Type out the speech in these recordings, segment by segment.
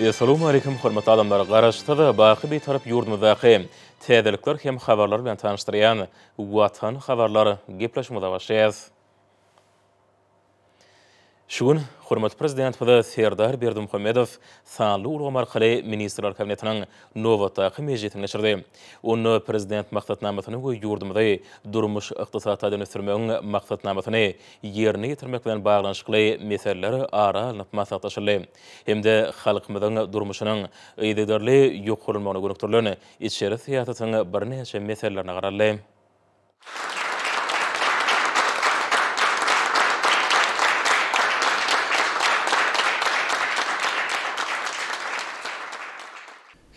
Essalamu Aleýkum hormatly adamlar! Garaşsyz, baky Bitarap ýurdumyzdaky täzelikler hem habarlar bilen tanyşdyrýan Watan habarlar gepleşigimize başlaýas. Şu gün hormatly Prezidentimiz Serdar Berdimuhamedow sanly ulgam arkaly Ministrler Kabinetiniň nobatdaky mejlisini geçirdi. Onda Prezident Maksatnamasyny we ýurdumyzy durmuş-ykdysady taýdan ösdürmegiň maksatnamasyny ýerine ýetirmek bilen baglanyşykly meseleler ara alnyp maslahatlaşyldy. hem-de halkymyzyň durmuşynyň yzygiderli ýokarlanmagyna gönükdirilen içeri syýasatyň birnäçe meselelerine garaldy.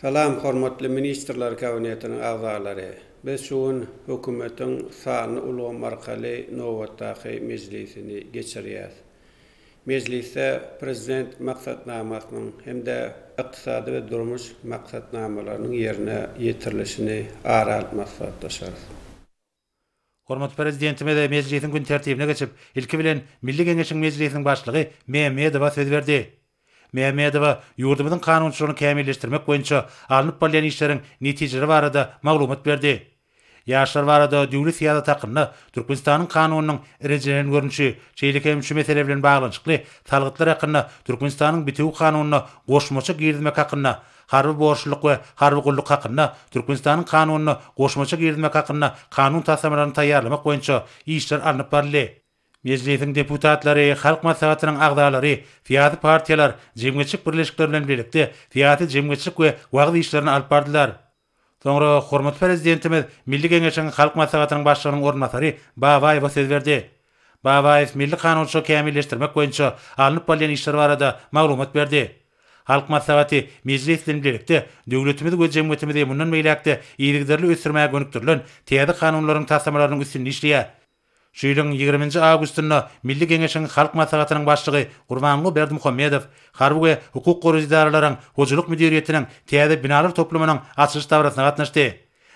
Salam, hormatly Ministrler Kabinetiniň agzalary! Biz şu gün Hökümetiň sanly ulgam arkaly nobatdaky mejlisini geçirýäs. Mejlisde Prezident maksatnamasynyň hem-de ykdysady we durmuş maksatnamalarynyň ýerine ýetirilişini ara alyp maslahatlaşarys. Hormatly Prezidentimiz mejlisiň gün tertibine geçip, ilki bilen, Milli Geňeşiň Mejlisiniň Başlygy Mämmedowa söz berdi. Mämmedowa ýurdumyzyň kanunçylygyny kämilleşdirmek boýunça alnyp barylýan işleriň netijeleri barada maglumat berdi. Ýaşlar barada döwlet syýasaty hakynda Türkmenistanyň Kanunynyň rejelen görnüşi, şeýle hem şu mesele bilen baglanyşykly salgytlar hakynda Türkmenistanyň Bitewi Kanunyna goşmaça girizmek hakynda, Harby borçlulyk we harby gulluk hakynda Türkmenistanyň Kanunyna goşmaça girizmek hakynda kanun taslamalaryny taýýarlamak boýunça işler alnyp baryldy. Mejlisiň deputatlary, Halk Maslahatynyň agzalary, syýasy partiýalar, jemgyýetçilik birleşikleri bilen birlikde syýasy, jemgyýetçilik we wagyz işlerini alyp bardylar. Soňra hormatly Prezidentimiz Milli Geňeşiň Halk Maslahatynyň Başlygynyň orunbasary Babaýewa söz berdi. Babaýew milli kanunçylygy kämilleşdirmek boýunça alnyp barylýan işler barada maglumat berdi. Halk Maslahaty, Mejlis bilen bilelikde döwletimizi we jemgyýetimizi mundan beýläk-de yzygiderli ösdürmäge gönükdirilen täze kanunlaryň taslamalarynyň üstünde işleýär. Şu ýylyň ýigriminji awgustynda Milli Geňeşiň Halk Maslahatynyň Başlygy Gurbanguly Berdimuhamedow harby we hukuk goraýjy edaralaryň hojalyk müdiriýetiniň täze binalar toplumynyň açylyş dabarasyna gatnaşdy.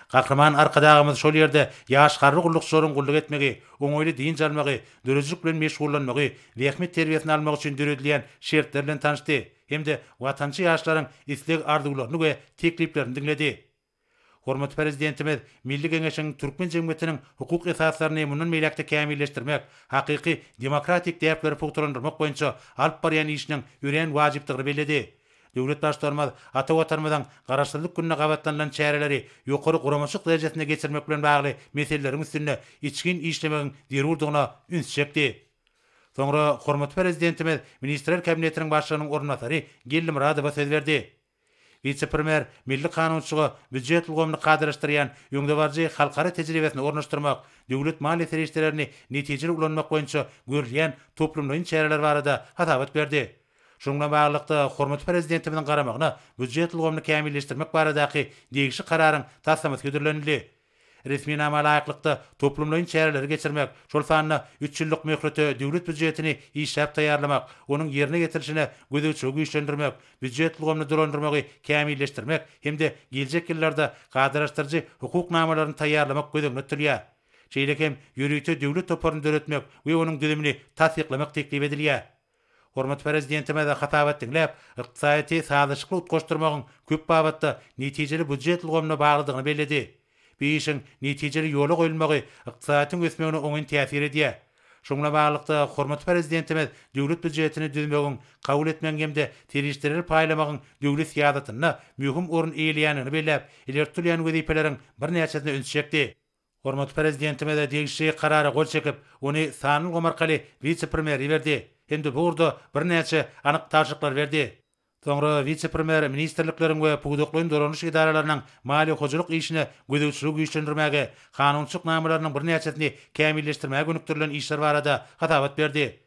Gahryman Arkadagymyz şol ýerde ýaş harby gullukçylaryň gulluk etmegi, oňaýly dynç almagy, döredijilik bilen meşgullanmagy, zähmet terbiýesini almagy üçin döredilýän şertler bilen tanyşdy hem-de watançy ýaşlaryň isleg-arzuwlaryny we tekliplerini diňledi. Hormatly Prezidentimiz Milli Geňeşiň türkmen jemgyýetiniň hukuk esaslaryny mundan beýläk-de kämilleşdirmek, hakyky demokratik däpleri pugtalandyrmak boýunça alyp barýan işiniň örän wajypdygyny belledi. Döwlet Baştutanymyz ata Watanymyzyň Garaşsyzlyk gününe gabatlanylan çäreleri ýokary guramaçylyk derejesinde geçirmek bilen bagly meseleleriň üstünde içgin işlemegiň zerurdygyna üns çekdi. Soňra hormatly Prezidentimiz Ministrler Kabinetiniň Başlygynyň orunbasary Geldi Myradowa söz berdi. Wise-premýer milli kanunçylyga býujet ulgamyny kadalaşdyrýan öňdebaryjy halkara tejribesini ornaşdyrmak, döwlet maliýe serişdelerini netijeli ulanmak boýunça görülýän toplumlaýyn çäreler barada hasabat berdi. Şunuň bilen baglylykda, hormatly Prezidentimiziň garamagyna býujet ulgamyny kämilleşdirmek baradaky degişli Kararyň taslamasy hödürlenildi. Resminama laýyklykda, toplumlaýyn çäreleri geçirmek, şol sanda üç ýyllyk möhlete Döwlet býujetini işläp taýýarlamak, onuň ýerine ýetirilişine gözegçiligi güýçlendirmek, býujet ulgamyny dolandyrmagy kämilleşdirmek hem-de geljek ýyllarda kadalaşdyryjy hukuk namalaryny taýýarlamak göz öňünde tutulýar. Şeýle hem ýörite döwlet toparyny döretmek we onuň düzümini tassyklamak teklip edilýär. Hormatly Prezidentimize hasabat diňläp, ykdysadyýeti sazlaşykly utgaşdyrmagyň köp babatda netijeli býujet ulgamyna baglydygyny belledi. Bu işiň netijeli ýola goýulmagy ykdysadyýetiň ösmegine oňyn täsir edýär. Şuň bilen baglylykda, hormatly Prezidentimiz Döwlet býujetini düzmegiň, kabul etmegiň hem-de serişdeleri paýlamagyň döwlet syýasatynda möhüm orun eýeleýändigini belläp, ileri tutulýan wezipeleriň birnäçesine üns çekdi. Hormatly Prezidentimiz degişli Karara gol çekip, ony sanly ulgam arkaly wise-premýere iberdi hem-de bu ugurda birnäçe anyk tabşyryklary berdi. Soňra wise-premýer ministrlikleriň we pudaklaýyn dolanyş edaralarynyň maliýe-hojalyk işine gözegçiligi güýçlendirmäge, kanunçylyk namalarynyň birnäçesini kämilleşdirmäge gönükdirilen işler barada hasabat berdi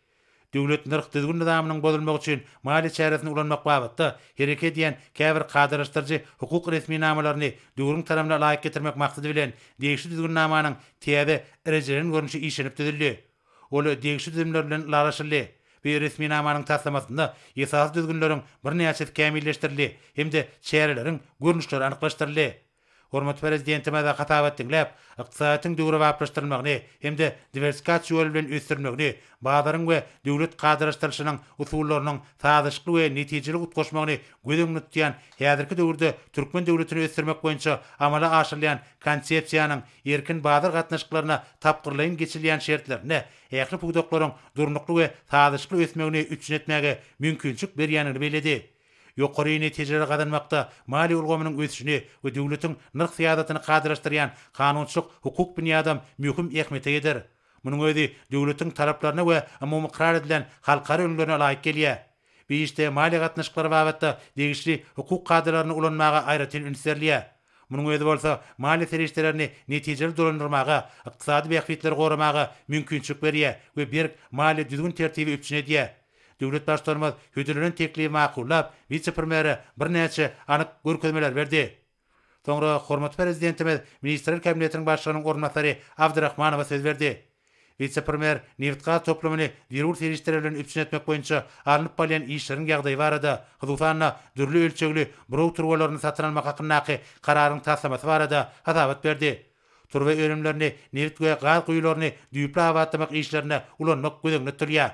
Döwlet nyrh-düzgün nyzamynyň bozulmagy üçin maliýe çäresini ulanmak babatda hereket edýän käbir kadalaşdyryjy hukuk resminamalaryny döwrüň talabna laýyk getirmek maksady bilen degişli düzgünnamanyň täze rejelenen görnüşi işlenip düzüldi. Ol degişli düzümler bilen ylalaşyldy we resminamanyň taslamasynda esasy düzgünleriň birnäçesi kämilleşdirildi hem-de çäreleriň görnüşleri anyklaşdyryldy. Hormatly Prezidentimize hasabat diňläp, ykdysadyýetiň döwrebaplaşdyrylmagyny hem-de diwersifikasiýa ýoly bilen ösdürilmegini, bazaryň we döwlet kadalaşdyrylyşynyň usullarynyň sazlaşykly we netijeli utgaşmagyny göz öňünde tutýan häzirki döwürde türkmen döwletini ösdürmek boýunça amala aşyrylýan Konsepsiýanyň erkin bazar gatnaşyklaryna tapgyrlaýyn geçirilýän şertlerinde ähli pudaklaryň durnukly we sazlaşykly ösmegini üpjün etmäge mümkinçilik berýändigini belledi. Ýokary netijeleri gazanmakda maliýe ulgamynyň ösüşine we döwletiň nyrh syýasatyny kadalaşdyrýan kanunçylyk hukuk binýadam möhüm ähmiýete eýedir. Munuň özi döwletiň talaplaryna we umumy ykrar edilen halkara ülňülerine laýyk gelýär. Bu işde maliýe gatnaşyklary babatda degişli hukuk kadalaryny ulanmaga aýratyn üns berilýär. Munuň özi bolsa maliýe serişdelerini netijeli dolandyrmaga, ykdysady bähbitleri goramaga mümkinçilik berýär we berk maliýe düzgün-tertibi üpjün edýär. Döwlet Baştutanymyz hödürlenen teklibi makullap, wise-premýere birnäçe anyk görkezmeler berdi. Soňra hormatly Prezidentimiz Ministrler Kabinetiniň Başlygynyň orunbasary Abdyrahmanowa söz berdi. Wise-premýer nebit-gaz toplumyny zerur serişdeler bilen üpjün etmek boýunça alnyp barylýan işleriň ýagdaýy barada, hususan-da, dürli ölçegli buraw turbalaryny satyn almak hakyndaky kararyň taslamasy barada hasabat berdi. Turba önümlerini, nebit we gaz guýularyny düýpli abatlamak işlerinde ulanmak göz öňünde tutulýar.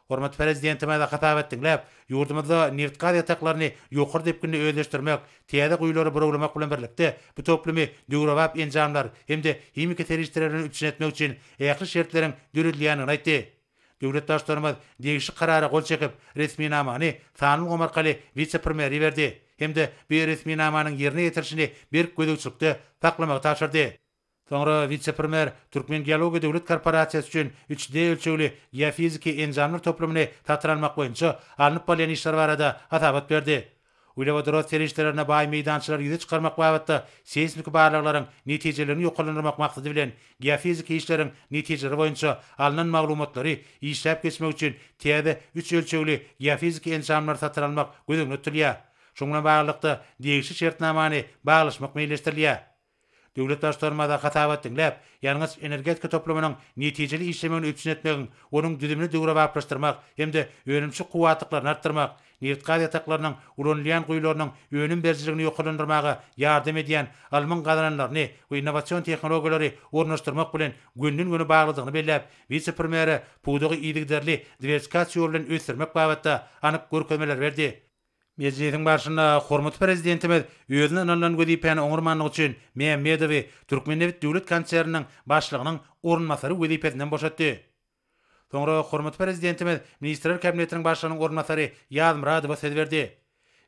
Hormatly Prezidentimiz hasap etsin diýip, ýurdumyzda nebit-gaz ýataklaryny ýokary depginde özleşdirmek, täze guýulary burawlamak bilen birlikde, bu toplumy döwrebap enjamlar hem-de himiki serişdeler bilen üpjün etmek üçin ähli şertleriň döredilýändigini aýtdy. Döwlet Baştutanymyz degişli Karara gol çekip, resminamany sanly ulgam arkaly wise-premýere iberdi hem-de bu resminamanyň ýerine ýetirilişini berk gözegçilikde saklamagy tabşyrdy. Soňra wise-premýer Türkmen geologiýa döwlet korporasiýasy üçin üç D ölçegli geofiziki enjamlar toplumyny satyn almak boýunça alnyp barylýan işler barada hasabat berdi. Uglewodorod serişdelerine baý meýdançalary ýüze çykarmak babatda seýsmiki barlaglaryň netijelerini ýokarlandyrmak maksady bilen geofiziki işleriň netijeleri boýunça alnan maglumatlary işläp geçmek üçin täze üç ölçegli geofiziki enjamlary satyn almak göz öňünde tutulýar. Şuň bilen baglylykda degişli şertnamany baglaşmak meýilleşdirilýär. Döwlet Baştutanymyza hasabat diňläp, ýangyç energetika toplumynyň netijeli işlemegini üpjün etmegiň, onuň düzümini döwrebaplaşdyrmak hem-de önümçi kuwwatlyklaryny artdyrmak, nebit-gaz ýataklarynyň ulanylýan guýularynyň önüm berijiligini ýokarlandyrmaga ýardam edýän ylmyň gazananlaryny we innowasion tehnologiýalary ornaşdyrmak bilen gönden-göni baglydygyny belläp, wise-premýere pudagy yzygiderli diwersikasiýa ýoly bilen ösdürmek babatda anyk görkezmeleri berdi. Mejlisiň barşynda hormatly Prezidentimiz özüne ynanylan wezipäni oňarmanlygy üçin Mämmedowy Türkmennebit döwlet konserniniň başlygynyň orunbasary wezipesinden boşatdy. Soňra hormatly Prezidentimiz Ministrler Kabinetiniň Başlygynyň orunbasary Ýazmyradowa söz berdi.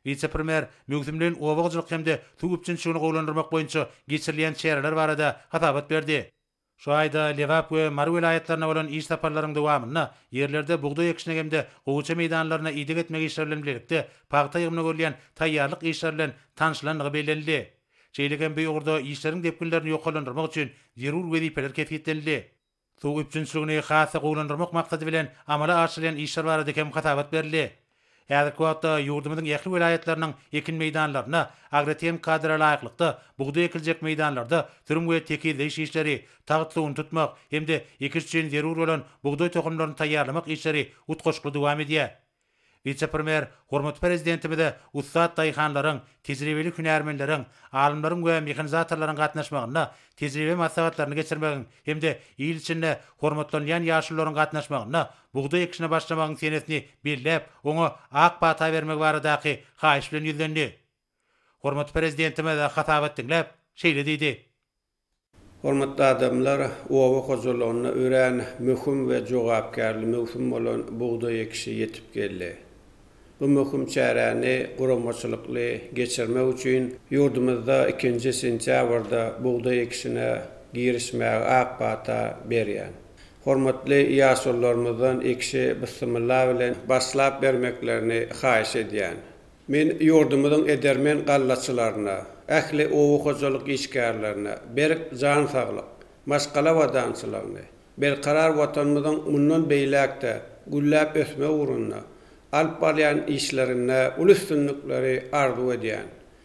Wise-premýer möwsümleýin oba hojalyk hem-de suw üpjünçiligini gowulandyrmak boýunça geçirilýän çäreler barada hasabat berdi. Şu aýda Lebap we Mary welaýatlaryna bolan iş saparlaryň dowamynda ýerlerde bugdaý ekişine hem-de gowaça meýdanlaryna ideg etmek işleri bilen birlikde pagta ýygymyna görülýän taýýarlyk işleri bilen tanşylandygy bellenildi. Şeýle hem bu ugurda işleriň depginlerini ýokarlandyrmak üçin zerur wezipeler kesgitlenildi. Suw üpjünçiligini has-da gowulandyrmak maksady bilen amala aşyrylýan işler barada hem hasabat berildi. Häzirki wagtda ýurdumyzyň ähli welaýatlarynyň ekin meýdanlarynda agrotehniki kadra laýyklykda bugdaý ekiljek meýdanlarda sürüm we tekizleýiş işleri, tagt suwuny tutmak hem-de ekiş üçin zerur bolan bugdaý tohumlaryny taýýarlamak işleri utgaşykly dowam edýär. Wise-premýer hormatly Prezidentimize ussat daýhanlaryň, tejribeli hünärmenleriň, alymlaryň we mehanizatorlaryň gatnaşmagynda tejribe maslahatlaryny geçirmegiň hem-de il içinde hormatlanylýan ýaşulularyň gatnaşmagynda Bugdaý ekişine başlamagyň senesini belläp, oňa ak pata bermegi baradaky haýyş bilen ýüzlendi. Hormatly Prezidentimiz hasabat diňläp, şeýle diýdi. Hormatly adamlar, oba hojalygyna örän möhüm we jogapkärli möwsüm bolan bugdaý ekişi ýetip geldi. Bu möhüm çäräni guramaçylykly geçirmek üçin ýurdumyzda ikinji sentýabrda bugdaý ekişine girişmäge ak pata berýän Hormatly ýaşulularymyzdan ekişe byssymylla bilen başlap bermeklerini haýyş edýän. Men ýurdumyzyň edermen gallaçylaryna, ähli oba hojalyk işgärlerine berk jan saglyk, maşgala abadançylygyny, berkarar Watanymyzyň mundan beýläk-de gülläp ösmegi ugrunda alyp barýan işlerinde uly üstünlikleri arzuw edýän.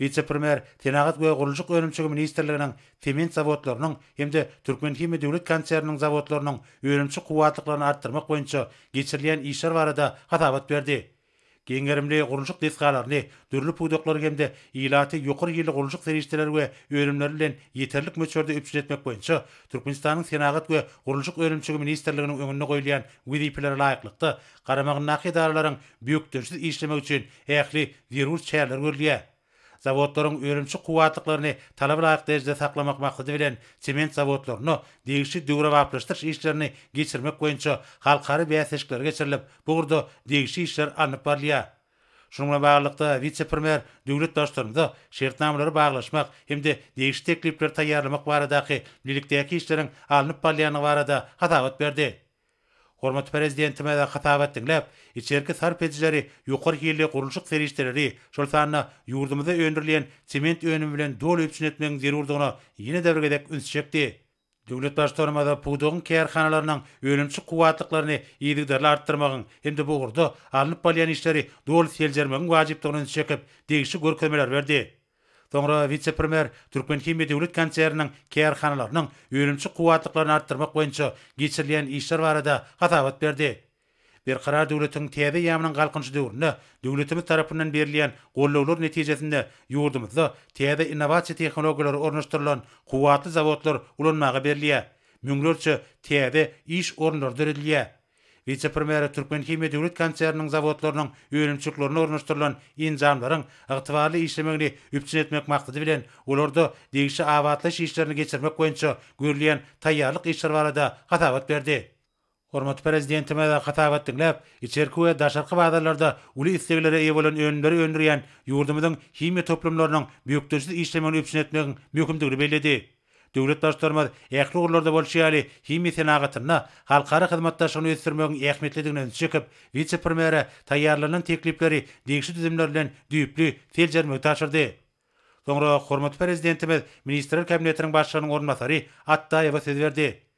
Wise-premýer Senagat we gurluşyk önümçigi ministrliginiň sement zawodlarynyň hem-de Türkmenhimiýa döwlet konserniniň zawodlarynyň önümçi kuwwatlyklaryny artdyrmak boýunça geçirilýän işler barada hasabat berdi. Giň gerimli gurluşyk desgalaryny, dürli pudaklary hem-de ilaty ýokary hilli gurluşyk serişdeleri we önümleri bilen ýeterlik möçberde üpjün etmek boýunça Türkmenistanyň Senagat we gurluşyk önümçigi ministrliginiň öňünde goýulýan wezipelere laýyklykda garamagyndaky edaralaryň bökdençsiz işlemegi üçin ähli zerur çäreler görülýär. Zawodlaryň önümçi kuwwatlyklaryny talaba laýyk derejede saklamak maksady bilen sement zawodlarynda degişli döwrebaplaşdyryş işlerini geçirmek boýunça halkara bäsleşikleri geçirilip, bu ugurda degişli işler alnyp barylýar. Şunuň bilen baglylykda, wise-premýer döwlet Baştutanymyza şertnamalary baglaşmak hem-de degişli teklipleri taýýarlamak baradaky bilelikdäki işleriň alnyp barylýandygy barada hasabat berdi. Hormatly Prezidentimize hasabat diňläp, içerki sarp edijileri ýokary hilli gurluşyk serişdeleri, şol sanda ýurdumyzda öndürilýän sement önümi bilen doly üpjün etmegiň zerurdygyna ýene-de bir gezek üns çekdi. Döwlet Baştutanymyz pudagyň kärhanalarynyň önümçi kuwwatlyklaryny yzygiderli artdyrmagyň hem-de bu ugurda alnyp barylýan işleri doly seljermegiň wajypdygyna üns çekip, degişli görkezmeler berdi. Soňra wise-premýer Türkmenhimiýa döwlet konserniniň kärhanalarynyň önümçi kuwwatlyklaryny artdyrmak boýunça geçirilýän işler barada hasabat berdi. Berkarar döwletiň täze eýýamynyň Galkynyşy döwründe döwletimiz tarapyndan berilýän gollawlar netijesinde ýurdumyzda täze innowasiýa tehnologiýalary ornaşdyrylan kuwwatly zawodlar ulanmaga berilýär, müňlerçe täze iş orunlary döredilýär. Wise-premýere Türkmenhimiýa döwlet konserniniň zawodlarynyň önümçiliklerine ornaşdyrylan enjamlaryň ygtybarly işlemegini üpjün etmek maksady bilen, olarda degişli abatlaýyş işlerini geçirmek boýunça görülýän taýýarlyk işleri barada hasabat berdi. Hormatly Prezidentimiz hasabat diňläp, içerki we daşarky bazarlarda uly isleglere eýe bolan önümleri öndürýän ýurdumyzyň himiýa toplumlarynyň bökdençsiz işlemegini üpjün etmegiň möhümdigini belledi. Döwlet Baştutanymyz ähli ugurlarda bolşy ýaly, himiýa senagatynda halkara hyzmatdaşlygyny ösdürmegiň ähmiýetlidigine ünsi çekip, wise-premýere taýýarlanylan teklipleri degişli düzümler bilen düýpli seljermegi tabşyrdy. Soňra hormatly Prezidentimiz Ministrler Kabinetiniň Başlygynyň orunbasary Atdaýewa söz berdi.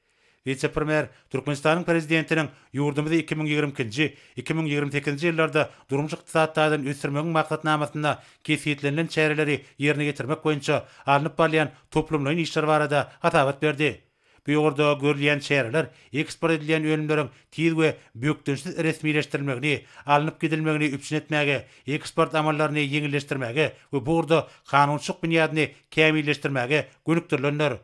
Wise-premýer Türkmenistanyň Prezidentiniň ýurdumyzy iki müň ýigrimi ikinji, iki müň ýigrimi sekizinji ýyllarda durmuş-ykdysady taýdan ösdürmegiň maksatnamasynda kesgitlenilen çäreleri ýerine ýetirmek boýunça alnyp barylýan toplumlaýyn işler barada hasabat berdi. Bu ýokarda görülýän çäreler eksport edilýän önümleriň tiz we bökdençsiz resmileşdirilmegini, alnyp gidilmegini üpjün etmäge, eksport amallaryny ýeňilleşdirmäge we bu ugurda kanunçylyk binýadyny kämilleşdirmäge gönükdirilendir.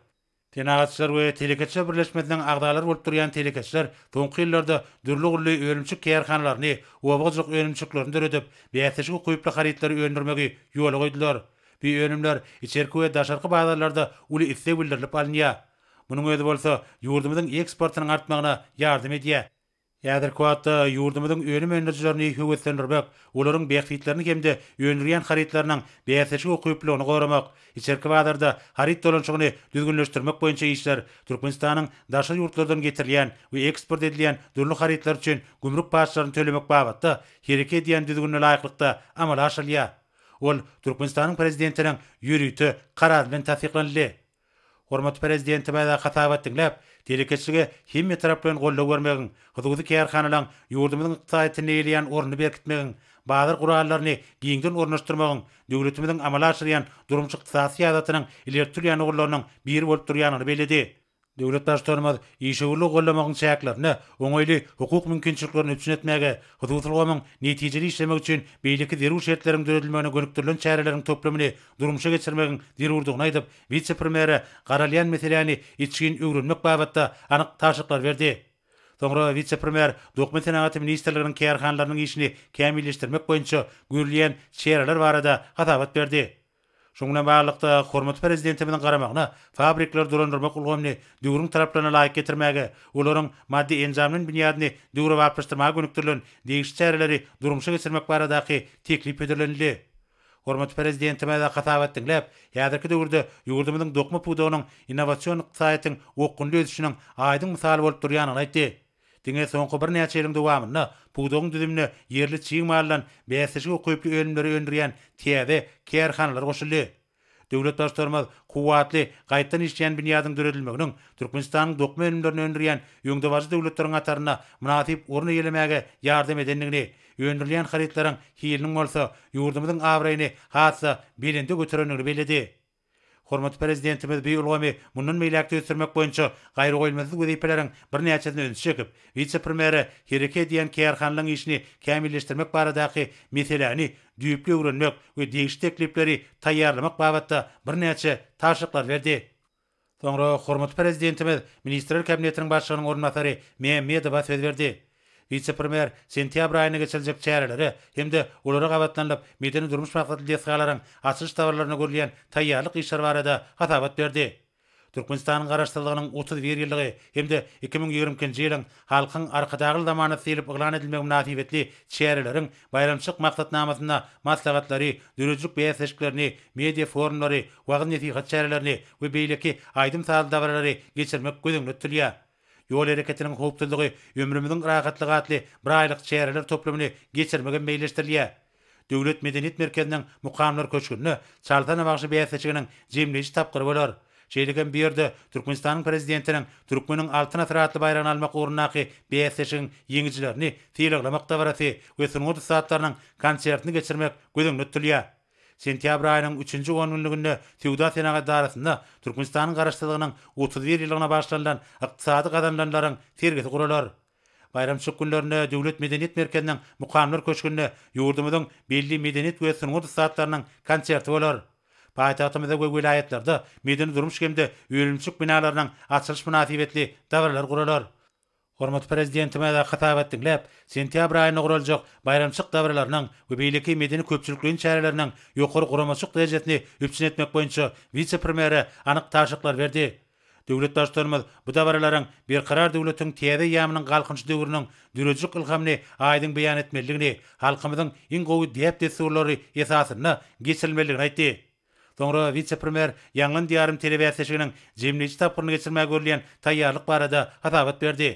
Senagatçylar we telekeçiler birleşmesiniň agzalary bolup durýan telekeçiler soňky ýyllarda dürli-gülli önümçilik kärhanalaryny, oba-ojak önümçiliklerini döredip, bäsleşik ukyply harytlary öndürmegi ýola goýdular. Bu önümler içerki we daşarky bazarlarda uly isleg bildirilip alynýar. Munuň özi bolsa ýurdumyzyň eksportynyň artmagyna ýardam edýär. Häzirki wagtda ýurdumyzyň önüm öndürijilerini höweslendirmek, olaryň bähbitlerini hem-de öndürýän harytlarynyň bäsdeşik ukyplylygyny goramak, içerki bazarda haryt dolanyşygyny düzgünleşdirmek boýunça işler, Türkmenistanyň daşary ýurtlardan getirilýän we eksport edilýän dürli harytlar üçin gümrük paçlaryny tölemek babatda hereke edýän düzgünine laýyklykda amala aşyrylýar. Ol Türkmenistanyň Prezidentiniň ýörite Karary bilen tassyklanyldy. Hormatly Prezidentimize hasabat diňläp, telekeçilige hemme tarap bilen goldaw bermegiň, hususy kärhanalaryň ýurdumyzyň ykdysadyýetinde eýeleýän ornuny berkitmegiň, bazar gurallaryny giňden ornaşdyrmagyň döwletimiziň amala aşyrýan durmuş-ykdysady syýasatynyň ileri tutulýan ugurlarynyň biri bolup durýandygyny belledi. Döwlet Baştutanymyz işewürligi goldamagyň çäklerinde oňaýly hukuk mümkinçiliklerini üpjün etmäge, hususy ulgamyň netijeli işlemegi üçin beýleki zerur şertleriň döredilmegine gönükdirilen çäreleriň toplumyny durmuşa geçirmegiň zerurdygyny aýdyp, wise-premýere garalýan meseläni içgin öwrenmek babatda anyk tabşyryklar berdi. Soňra wise-premýer Dokma senagaty ministrliginiň kärhanalarynyň işini kämilleşdirmek boýunça görülýän çäreler barada hasabat berdi. Şunuň bilen baglylykda, hormatly Prezidentimiziň garamagyna fabrikleri dolandyrmak ulgamyny döwrüň talaplaryna laýyk getirmäge, olaryň maddy-enjamly binýadyny döwrebaplaşdyrmaga gönükdirilen degişli çäreleri durmuşa geçirmek baradaky teklip hödürlenildi. Hormatly Prezidentimize hasabat diňläp, häzirki döwürde ýurdumyzyň dokma pudagynyň innowasion ykdysadyýetiň okgunly ösüşiniň aýdyň mysaly bolup durýandygyny aýtdy. Diňe soňky birnäçe ýylyň dowamynda pudagyň düzümine ýerli çig maldan bäsleşige ukyply önümleri öndürýän täze kärhanalar goşuldy. Döwlet Baştutanymyz kuwwatly, gaýtdan işleýän binýadyň döredilmeginiň Türkmenistanyň dokma önümlerini öndürýän öňdebaryjy döwletleriň hatarynda mynasyp orun eýelemäge ýardam edendigini, öndürilýän harytlaryň hiliniň bolsa ýurdumyzyň abraýyny has-da belende göterendigini belledi. Hormatly Prezidentimiz bu ulgamy mundan beýläk-de ösdürmek boýunça gaýragoýulmasyz wezipeleriň birnäçesine üns çekip, wise-premýere hereket edýän kärhanalaryň işini kämilleşdirmek baradaky meseläni düýpli öwrenmek we degişli teklipleri taýýarlamak babatda birnäçe tabşyryklary berdi. Soňra hormatly Prezidentimiz Ministrler Kabinetiniň Başlygynyň orunbasary Mämmedowa söz berdi. Wise-premýer sentýabr aýynda geçiriljek çärelere hem-de olara gabatlanylyp, medeni-durmuş maksatly desgalaryň açylyş dabaralarynda görülýän taýýarlyk işleri barada hasabat berdi. Türkmenistanyň Garaşsyzlygynyň otuz bir ýyllygy hem-de iki müň ýigrimi ikinji ýylyň Halkyň Arkadagly zamanasy diýlip yglan edilmegi mynasybetli çäreleriň baýramçylyk maksatnamasynda maslahatlary, döredijilik bäsleşiklerini, media forumlary, wagyz-nesihat çärelerini we beýleki aýdym-sazly dabaralary geçirmek göz öňünde tutulýar. Ýol hereketiniň howpsuzlygy, ömrümiziň rahatlygy atly bir aýlyk çäreler toplumyny geçirmek hem meýilleşdirilýär. Döwlet medeniýet merkeziniň Mukamlar köşgünde Çalyta nabagşy bäsleşiginiň jemleýji tapgyry bolar. Şeýle hem bu ýerde Türkmenistanyň Prezidentiniň Türkmeniň Altyn asyry atly baýragyny almak ugrundaky bäsleşigiň ýeňijilerini sylaglamak dabarasy we sungat ussatlarynyň konsertini geçirmek göz öňünde tutulýar. Sentýabr aýynyň üçünji ongünlüginde Söwda-senagat edarasynda Türkmenistanyň Garaşsyzlygynyň otuz bir ýyllygyna bagyşlanylan ykdysady gazanylanlaryň sergisi guralar. Baýramçylyk günlerinde Döwlet medeniýet merkeziniň Mukamlar köşgünde ýurdumyzyň belli medeniýet we sungat ussatlarynyň konserti bolar. Paýtagtymyzda we welaýatlarda medeni-durmuş hem-de önümçilik binalarynyň açylyş mynasybetli dabaralar guralar. Hormatly Prezidentimiz hasabat diňläp, sentýabr aýynda guraljak baýramçylyk dabaralarynyň we beýleki medeni-köpçülikleýin çäreleriniň ýokary guramaçylyk derejesini üpjün etmek boýunça wise-premýere anyk tabşyryklar berdi. Döwlet Baştutanymyz bu dabaralaryň Berkarar döwletiň täze eýýamynyň Galkynyş döwrüniň dörejik ylhamyny aýdyň beýan etmelidigini, halkymyzyň iň gowy däp-dessurlary esasynda geçirilmelidigini aýtdy. Soňra wise-premýer Ýaňlan Diýarym telebäsleşiginiň jemleýji tapgyryny geçirmäge görülýän taýýarlyk barada hasabat berdi.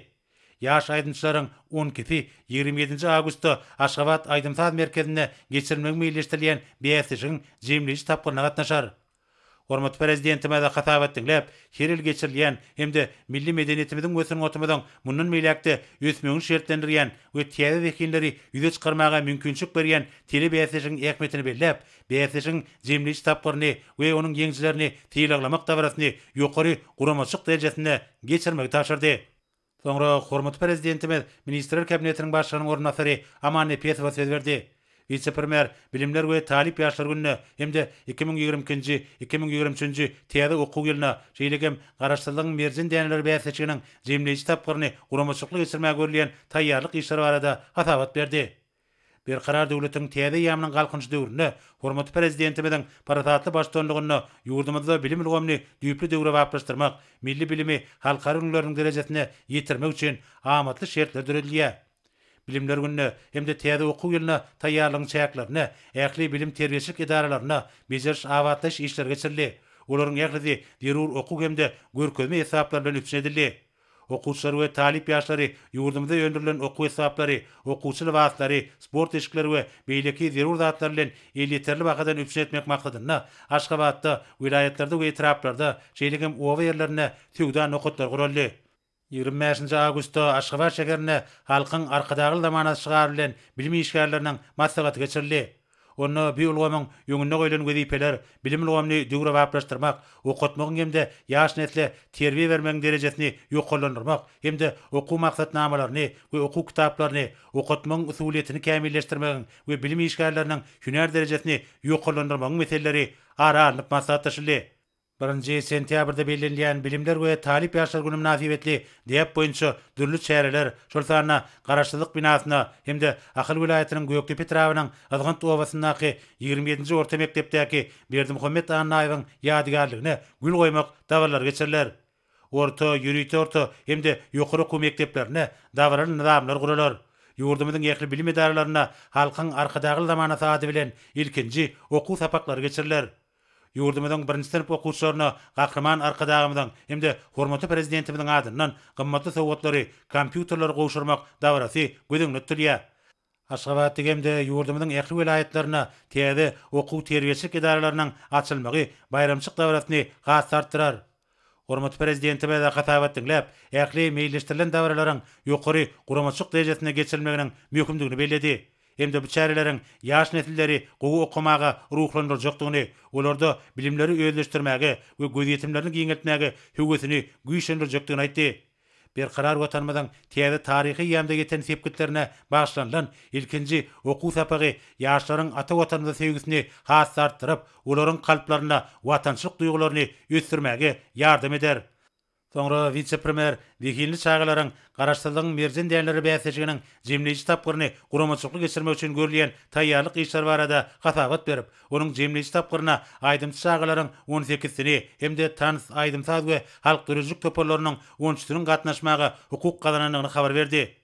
Ýaş aýdymçylaryň on ikisi ýigrimi ýedinji awgustda Aşgabat aýdym-saz merkezinde geçirilmegi meýilleşdirilýän bäsleşigiň jemleýji tapgyryna gatnaşar. Hormatly Prezidentimize hasabat diňläp, her ýyl geçirilýän hem-de milli medeniýetimiziň we sungatymyzyň mundan beýläk-de ösmegini şertlendirýän we täze zehinleri ýüze çykarmaga mümkinçilik berýän telebäsleşigiň ähmiýetini belläp, bäsleşigiň jemleýji tapgyryny we onuň ýeňijilerini sylaglamak dabarasyny ýokary guramaçylyk derejesinde geçirmegi tabşyrdy. Soňra hormatly Prezidentimiz Ministrler Kabinetiniň Başlygynyň orunbasary Aman Nepesowa söz berdi. Wise-premýer Bilimler we talyp ýaşlar gününe hem-de iki müň ýigrimi ikinji, iki müň ýigrimi üçünji täze okuw ýylyna, şeýle hem Garaşsyzlygyň merjen däneleri bäsleşiginiň jemleýji tapgyryny guramaçylykly geçirmäge görülýän taýýarlyk işleri barada hasabat berdi. Berkarar döwletiň täze eýýamynyň Galkynyş döwründe hormatly Prezidentimiziň parasatly baştutanlygynda ýurdumyzda bilim ulgamyny düýpli döwrebaplaşdyrmak, milli bilimi halkara ülňüleriniň derejesine ýetirmek üçin amatly şertler döredilýär. Bilimler gününe hem-de täze okuw ýylyna taýýarlygyň çäklerinde ähli bilim-terbiýeçilik edaralarynda bejeriş-abatlaýyş işleri geçirildi, olaryň ählisi zerur okuw hem-de görkezme esbaplar bilen üpjün edildi. Okuwçylar we talyp ýaşlary ýurdumyzda öndürilen okuw esbaplary, okuwçy lybaslary, sport eşikleri we beýleki zerur zatlar bilen elýeterli bahadan üpjün etmek maksadynda Aşgabatda, welaýatlarda we etraplarda, şeýle hem oba ýerlerinde söwda nokatlary guraldy. Ýigrimi bäşinji awgustda Aşgabat şäherinde Halkyň Arkadagly zamanasy şygary bilen bilim işgärleriniň maslahaty geçirildi. Onda bu ulgamyň öňünde goýlan wezipeler bilim ulgamyny döwrebaplaşdyrmak, okatmagyň hem-de ýaş nesle terbiýe bermegiň derejesini ýokarlandyrmak hem-de okuw maksatnamalaryny we okuw kitaplaryny okatmagyň usulyýetini kämilleşdirmegiň we bilim işgärleriniň hünär derejesini ýokarlandyrmagyň meseleleri ara alnyp maslahatlaşyldy. Birinji sentýabrda bellenilýän Bilimler we talyp ýaşlar güni mynasybetli däp boýunça dürli çäreler, şol sanda Garaşsyzlyk binasynda hem-de Ahal welaýatynyň Gökdepe etrabynyň Yzgynt obasyndaky ýigrimi ýedinji orta mekdepdäki Berdimuhamet Annaýewiň ýadygärligine gül goýmak dabaralary geçiriler. Orta, ýörite orta hem-de ýokary okuw mekdeplerinde dabaraly nyzamlar guralar. Ýurdumyzyň ähli bilim edaralarynda Halkyň Arkadagly zamanasy ady bilen ilkinji okuw sapaklary geçiriler. Ýurdumyzyň birinji synp okuwçylaryna Gahryman Arkadagymyzyň hem-de hormatly Prezidentimiziň adyndan gymmatly sowgatlary, kompýuterleri gowşurmak dabarasy göz öňünde tutulýar. Aşgabatda hem-de ýurdumyzyň ähli welaýatlarynda täze okuw-terbiýeçilik edaralarynyň açylmagy baýramçyk dabarasyny has-da artdyrar. Hormatly Prezidentimize hasabat diňläp, ähli meýilleşdirilen dabaralaryň ýokary guramaçylyk derejesinde geçirilmeginiň möhümdigini belledi hem-de bu çäreleriň ýaş nesilleri gowy okamaga ruhlandyrjakdygyny, olarda bilimleri özleşdirmäge we gözýetimlerini giňeltmäge höwesini güýçlendirjekdigini aýtdy. Berkarar Watanymyzyň täze taryhy eýýamda ýeten sepgitlerine bagyşlanylan ilkinji okuw sapagy ýaşlaryň ata Watanymyza söýgüsini has-da artdyryp, olaryň kalplarynda watançylyk duýgularyny ösdürmäge ýardam eder. Soňra wise-premýer zehinli çagalaryň Garaşsyzlygyň merjen dänleri bäsleşiginiň jemleýji tapgyryny guramaçylykly geçirmek üçin görülýän taýýarlyk işleri barada hasabat berip, Onuň jemleýji tapgyryna aýdymçy çagalaryň on sekizisini hem-de tans, aýdym-saz we halk döredijilik toparlarynyň on üçüsiniň gatnaşmaga hukuk gazanandygyny habar berdi.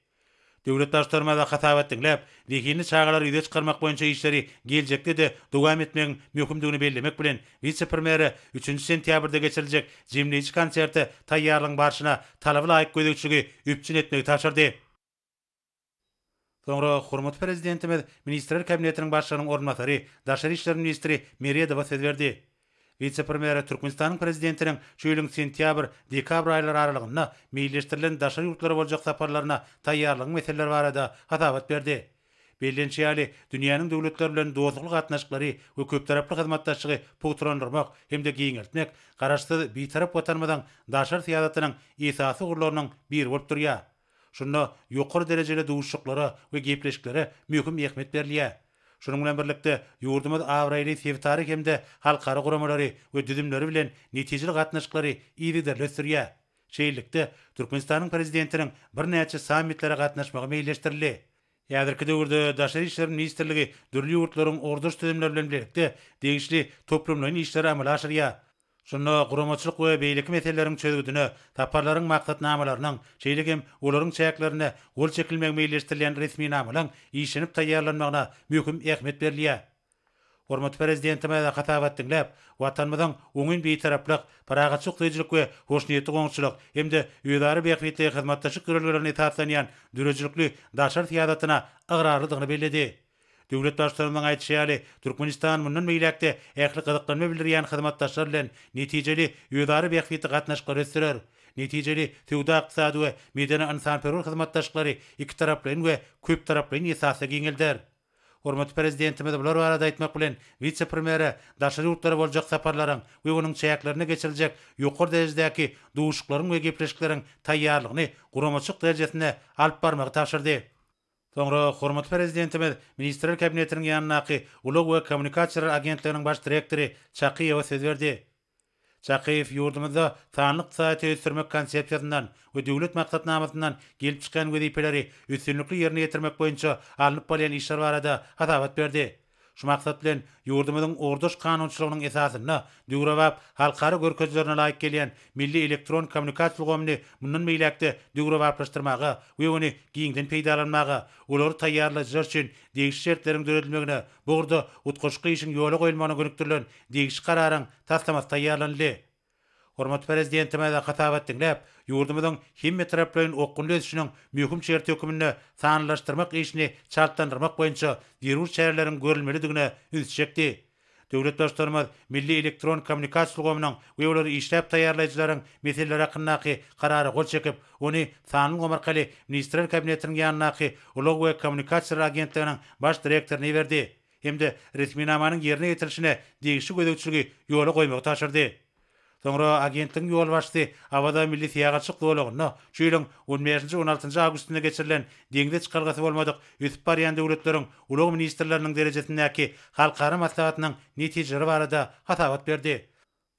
Döwlet Baştutanymyza hasabat diňläp, zehinli çagalary ýüze çykarmak boýunça işleri geljekde-de dowam etmegiň möhümdigini bellemek bilen, wise-premýere üçünji sentýabrda geçiriljek jemleýji konserte taýýarlygyň barşyna talaby laýyk gözegçiligi üpjün etmegi tabşyrdy. Soňra hormatly Prezidentimiz Ministrler Kabinetiniň Başlygynyň orunbasary, daşary işler ministri Meredowa söz berdi. Wise-premýere Türkmenistanyň Prezidentiniň şu ýylyň sentýabr, dekabr aýlary aralygynda meýilleşdirilen daşary ýurtlara boljak saparlaryna taýýarlygyň meseleleri barada hasabat berdi. Bellenişi ýaly, dünýäniň döwletleri bilen dostlukly gatnaşyklary we köptaraply hyzmatdaşlygy pugtalandyrmak hem-de giňeltmek Garaşsyz, Bitarap Watanymyzyň daşary syýasatynyň esasy ugurlarynyň biri bolup durýar. Şunda ýokary derejeli duşuşyklara we gepleşiklere möhüm ähmiýet berilýär. Şunuň bilen birlikde, ýurdumyz abraýly sebitara hem-de halkara guramalary we düzümleri bilen netijeli gatnaşyklary yzygiderli ösdürýär. Şeýlelikde, Türkmenistanyň Prezidentiniň birnäçe sammitlere gatnaşmagy meýilleşdirildi. Häzirki döwürde Daşary işler ministrligi dürli ýurtlaryň ugurdaş düzümleri bilen bilelikde degişli toplumlaýyn işleri amala aşyrýar. Şunda guramaçylyk we beýleki meseleleriň çözgüdine saparlaryň maksatnamalarynyň, şeýle hem olaryň çäklerinde gol çekilmegi meýilleşdirilýän resminamalaryň işlenip taýýarlanmagyna möhüm ähmiýet berilýär. Hormatly Prezidentimize hasabat diňläp, Watanymyzyň oňyn Bitaraplyk, parahatçy ykdyýjylyk we hoşniýetli goňşuçylyk hem-de özara bähbitli hyzmatdaşlyk ýörelgelerine esaslanýan döredijilikli daşary syýasatyna ygrarlydygyny belledi. Döwlet Baştutanymyzyň aýdyşy ýaly, Türkmenistan mundan beýläk-de ähli gyzyklanma bildirýän hyzmatdaşlar bilen netijeli özara bähbitli gatnaşyklary ösdürer, netijeli söwda-ykdysady we medeni-ynsanperwer hyzmatdaşlyklary ikitaraplaýyn we köptaraplaýyn esasda giňelder. Hormatly Prezidentimiz bular barada aýtmak bilen, wise-premýere daşary ýurtlara boljak saparlaryň we onuň çäklerinde geçiriljek ýokary derejedäki duşuşyklaryň we gepleşikleriň taýýarlygyny guramaçylyk derejesinde alyp barmagy tabşyrdy. Soňra hormatly Prezidentimiz Ministrler Kabinetiniň ýanyndaky Ulag we kommunikasiýalar agentliginiň baş direktory Çakyýewa söz berdi. Çakyýew ýurdumyzda sanly ykdysadyýeti ösdürmek konsepsiýasyndan we Döwlet maksatnamasyndan gelip çykýan wezipeleri üstünlikli ýerine ýetirmek boýunça alnyp barylýan işler barada hasabat berdi. Şu maksat bilen, ýurdumyzyň ugurdaş kanunçylygynyň esasynda döwrebap, halkara görkezilerine laýyk gelýän milli elektron kommunikasiýa ulgamyny mundan beýläk-de döwrebaplaşdyrmaga we ony giňden peýdalanmaga, olary taýýarlaýjylar üçin degişli şertleriň döredilmegine bu ugurda utgaşykly işiň ýola goýulmagyna gönükdirilen degişli Kararyň taslamasy taýýarlanyldy. Hormatly Prezidentimize hasabat diňläp, ýurdumyzyň hemmetaraplaýyn okgunly ösüşiniň möhüm şerti hökmünde sanlylaşdyrmak işini çaltlandyrmak boýunça zerur çäreleriň görülmelidigine üns çekdi. Döwlet Baştutanymyz milli elektron kommunikasiýa ulgamynyň we olary işläp taýýarlaýjylaryň meseleleri hakyndaky Karara gol çekip, ony sanly ulgam arkaly Ministrler Kabinetiniň ýanyndaky Ulag we kommunikasiýalar agentliginiň Baş direktoryna iberdi. hem-de resminamanyň ýerine ýetirilişine degişli gözegçiligi ýola goýmagy tabşyrdy. Soňra agentligiň ýolbaşçysy Awaza milli syýahatçylyk zolagynda şu ýylyň on bäşinji, on altynjy awgustynda geçirilen Deňze çykalgasy bolmadyk ösüp barýan döwletleriň ulag ministrleriniň derejesindäki halkara maslahatynyň netijeleri barada hasabat berdi.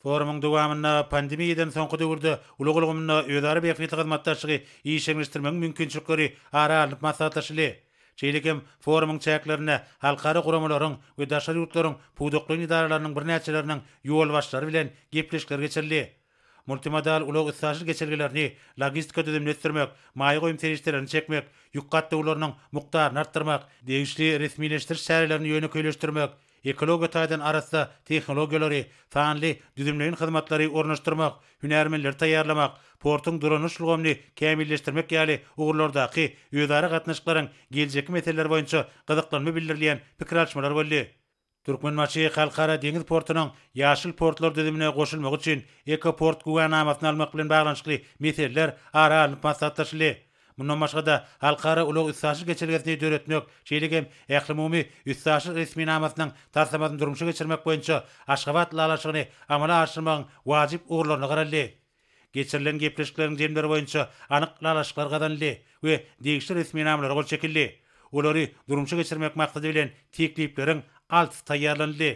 Forumyň dowamynda pandemiýadan soňky döwürde ulag ulgamynda özara bähbitli hyzmatdaşlygy işjeňleşdirmegiň mümkinçilikleri ara alnyp maslahatlaşyldy. Şeýle hem forumyň çäklerinde halkara guramalaryň we daşary ýurtlaryň pudaklaýyn edaralarynyň birnäçeleriniň ýolbaşçylary bilen gepleşikler geçirildi. Multimodal ulag-üstaşyr geçelgelerini logistika düzümini ösdürmek, maýa goýum serişdelerini çekmek, ýük gatnawlarynyň mukdaryny artdyrmak, degişli resmileşdiriş çärelerini ýönekeýleşdirmek, Ekologiýa taýdan arassa tehnologiýalary, sanly düzümleýin hyzmatlary ornaşdyrmak, hünärmenleri taýýarlamak, portuň dolanyş ulgamyny kämilleşdirmek ýaly ugurlardaky özara gatnaşyklaryň geljekki meseleleri boýunça gyzyklanma bildirilýän pikir alyşmalar boldy. Türkmenbaşy Halkara deňiz portunyň Ýaşyl portlar düzümine goşulmagy üçin Ekoport güwänamasyny almak bilen baglanyşykly meseleler ara alnyp maslahatlaşyldy. Mundan başga-da, halkara ulag-üstaşyr geçelgesini döretmek, şeýle hem ählumumy üstaşyr resminamasynyň taslamasyny durmuşa geçirmek boýunça Aşgabat ylalaşygyny amala aşyrmagyň wajyp ugurlaryna garaldy. Geçirilen gepleşikleriň jemleri boýunça anyk ylalaşyklar gazanyldy we degişli resminamalara gol çekildi. Olary durmuşa geçirmek maksady bilen teklipleriň altysy taýýarlanyldy.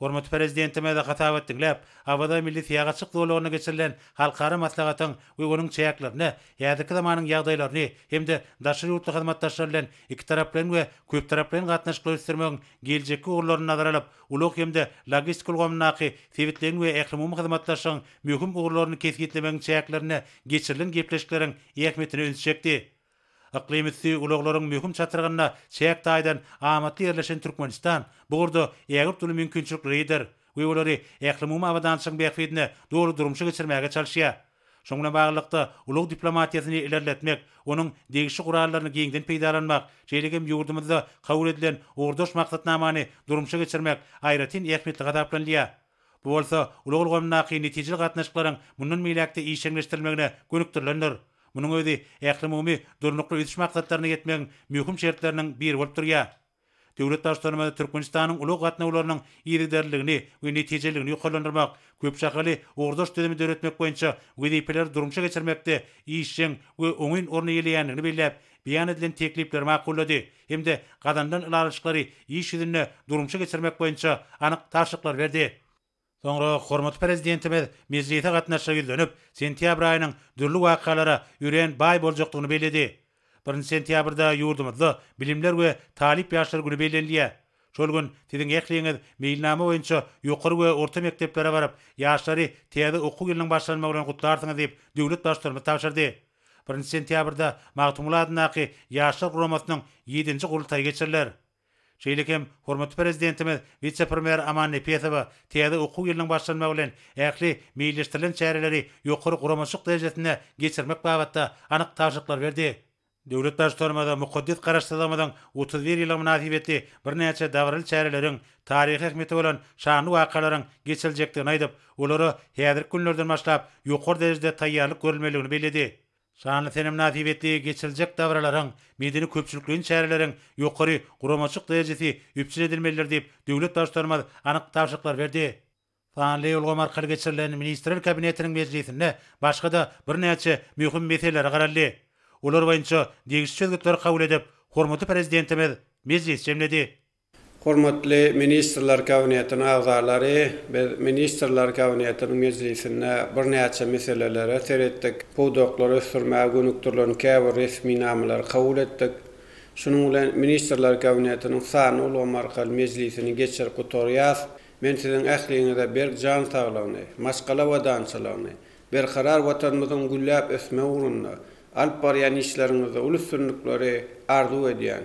Hormatly Prezidentimiz hasabat diňläp, Awaza milli syýahatçylyk zolagynda geçirilen halkara maslahatyň we onuň çäklerinde häzirki zamanyň ýagdaýlaryny hem-de daşary ýurtly hyzmatdaşlar bilen ikitaraplaýyn we köptaraplaýyn gatnaşyklary ösdürmegiň geljekki ugurlaryny nazara alyp, ulag hem-de logistika ulgamyndaky sebitleýin we ählumumy hyzmatdaşlygyň möhüm ugurlaryny kesgitlemegiň çäklerinde geçirilen gepleşikleriň ähmiýetine ünsi çekdi. Yklym üsti ulaglaryň möhüm çatrygynda çäk taýdan amatly ýerleşen Türkmenistan bu ugurda ägirt uly mümkinçiliklridir we olary ählumumy abadançylygyň bähbidine doly durmuşa geçirmäge çalyşýar. Şunuň bilen baglylykda, ulag diplomatiýasyny ilerletmek, onuň degişli gurallaryny giňden peýdalanmak, şeýle hem ýurdumyzda kabul edilen ugurdaş maksatnamany durmuşa geçirmek aýratyn ähmiýetli hasaplanylýar. Bu bolsa ulag ulgamyndaky netijeli gatnaşyklaryň mundan beýläk-de işjeňleşdirilmegine gönükdirilendir. Munuň özi ählumumy Durnukly ösüş maksatlaryna ýetmegiň möhüm şertleriniň biri bolup durýar. Döwlet Baştutanymyz Türkmenistanyň ulag gatnawlarynyň yzygiderliligini we netijeliligini ýokarlandyrmak, köp şahaly ugurdaş düzümi döretmek boýunça wezipeleri durmuşa geçirmekde işjeň we oňyn orun eýeleýändigini belläp, beýan edilen teklipleri makullady hem-de gazanylan ylalaşyklary iş ýüzünde durmuşa geçirmek boýunça anyk tabşyryklar berdi. Soňra hormatly Prezidentimiz mejlise gatnaşyja ýüzlenip, sentýabr aýynyň dürli wakalara örän baý boljakdygyny belledi. Birinji sentýabrda ýurdumyzda Bilimler we talyp ýaşlar güni bellenilýär. Şol gün siziň ähliňiz meýilnama boýunça ýokary we orta mekdeplere baryp, ýaşlary täze okuw ýylynyň başlanmagy bilen gutlarsyňyz diýip, döwlet Baştutanymyz tabşyrdy. Birinji sentýabrda Magtymguly adyndaky Ýaşlar guramasynyň ýedinji gurultaýy geçiriler. Şeýle hem hormatly Prezidentimiz wise-premýer Aman Nepesowa täze okuw ýylynyň başlanmagy bilen ähli meýilleşdirilen çäreleri ýokary guramaçylyk derejesinde geçirmek babatda anyk tabşyryklar berdi. Döwlet Baştutanymyza mukaddes Garaşsyzlygymyzyň otuz bir ýyllygy mynasybetli birnäçe dabaraly çäreleriň, taryhy ähmiýeti bolan şanly wakalaryň geçiriljekdigini aýdyp, olara häzirki günlerden başlap ýokary derejede taýýarlyk görülmelidigini belledi. Şanly sene mynasybetli geçiriljek dabaralaryň, medeni-köpçülikleýin çäreleriň ýokary guramaçylyk derejesi üpjün edilmelidir diýip, döwlet Baştutanymyz anyk tabşyryklar berdi. Sanly ulgam arkaly geçirilen Ministrler Kabinetiniň mejlisinde başga-da birnäçe möhüm meselelere garaldy. Olar boýunça degişli çözgütleri kabul edip, hormatly Prezidentimiz mejlis jemledi. Hormatly Ministrler Kabinetiniň agzalary, biz Ministrler Kabinetiniň mejlisinde birnäçe meselelere seretdik, pudaklary ösdürmäge gönükdirilen käbir resminamalary kabul etdik. Şunuň bilen Ministrler Kabinetiniň sanly ulgamy arkaly mejlisini geçirip gutarýas. Men siziň ähliňize berk jan saglygyny, maşgala abadançylygyny, Berkarar Watanymyzyň gülläp ösmegi ugrunda alyp barýan işleriňizde uly üstünlikleri arzuw edýän.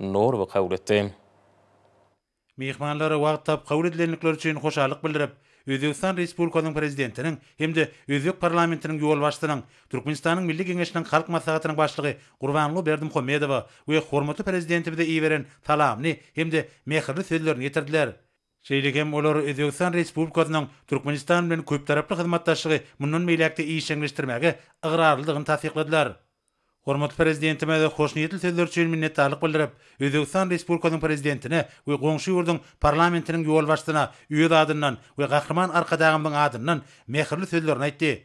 Nurowy kabul etdi. Myhmanlara wagt tapyp kabul edilendikleri üçin hoşallyk bildirip, Özbegistan Respublikasynyň Prezidentiniň hem-de özbek parlamentiniň ýolbaşçysynyň, Türkmenistanyň Milli Geňeşiniň Halk Maslahatynyň Başlygy Gurbanguly Berdimuhamedowa we hormatly Prezidentimize iberen salamly hem-de mähirli sözlerini ýetirdiler. Şeýle hem olar Özbegistan Respublikasynyň Türkmenistan bilen köptaraply hyzmatdaşlygy mundan beýläk-de işjeňleşdirmäge ygrarlydygyny tassykladylar. Hormatly Prezidentimize hoşniýetli sözleri üçin minnetdarlyk bildirip, Özbegistan Respublikasynyň Prezidentine we goňşy ýurduň Parlamentiniň ýolbaşçysyna öz adyndan we Gahryman Arkadagymyzyň adyndan mähirli sözlerini aýtdy.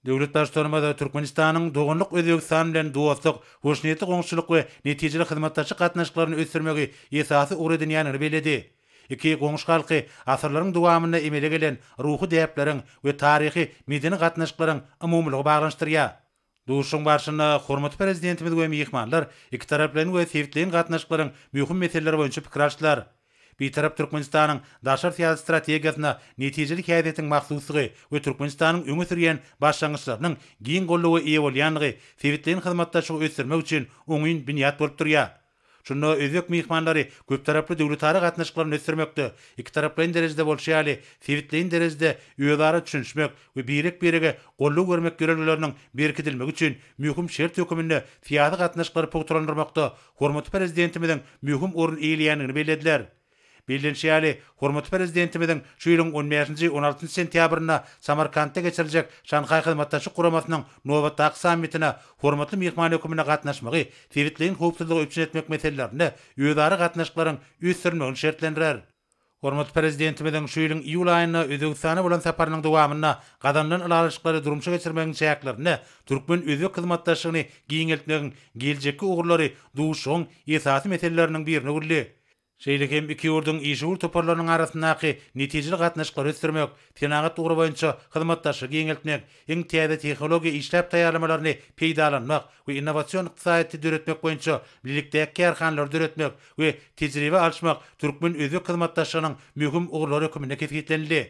Döwlet Baştutanymyz Türkmenistanyň doganlyk Özbegistan bilen dostluk, hoşniýetli goňşuçylyk we netijeli hyzmatdaşlyk gatnaşyklaryny ösdürmegi esasy ugur edinýändigini belledi. Iki goňşy halky asyrlaryň dowamynda emele gelen ruhy däpleriň we taryhy, medeni gatnaşyklaryň umumylygy baglanyşdyrýar. Duşuşygyň barşynda hormatly Prezidentimiz we myhmanlar ikitaraplaýyn we sebitleýin gatnaşyklaryň möhüm meseleleri boýunça pikir alşdylar. Bitarap Türkmenistanyň daşary syýasat strategiýasyna netijeli häsiýetiň mahsusdygy we Türkmenistanyň öňe sürýän başlangyçlarynyň giň goldawa eýe bolýandygy sebitleýin hyzmatdaşlygy ösdürmek üçin oňyn binýat bolup durýar. Şunda özbek myhmanlary köptaraply döwletara gatnaşyklaryny ösdürmekde, ikitaraplaýyn derejede bolşy ýaly, sebitleýin derejede özara düşünişmek we birek-birege goldaw bermek ýörelgeleriniň berkidilmegi üçin möhüm şert höküminde syýasy gatnaşyklary pugtalandyrmakda hormatly Prezidentimiziň möhüm orun eýeleýändigini bellediler. Bellenişi ýaly, hormatly Prezidentimiziň şu ýylyň on bäşinji, on altynjy sentýabrynda Samarkantda geçiriljek Şanhaý Hyzmatdaşlyk Guramasynyň nobatdaky sammitine hormatly myhman hökmünde gatnaşmagy sebitleýin howpsuzlygy üpjün etmek meselelerinde özara gatnaşyklaryň ösdürilmegini şertlendirer. Hormatly Prezidentimiziň şu ýylyň iýul aýynda Özbegistana bolan saparynyň dowamynda gazanylan ylalaşyklary durmuşa geçirmegiň çäklerinde türkmen-özbek hyzmatdaşlygyny giňeltmegiň geljekki ugurlary duşuşygyň esasy meseleleriniň birine öwrüldi. şeýle hem iki ýurduň işewür toparlarynyň arasyndaky netijeli gatnaşyklary ösdürmek, senagat ugry boýunça hyzmatdaşlygy giňeltmek, iň täze tehnologiýa işläp taýýarlamalaryny peýdalanmak we innowasion ykdysadyýeti döretmek boýunça bilelikdäki kärhanalary döretmek we tejribe alyşmak türkmen-özbek hyzmatdaşlygynyň möhüm ugurlary hökmünde kesgitlenildi.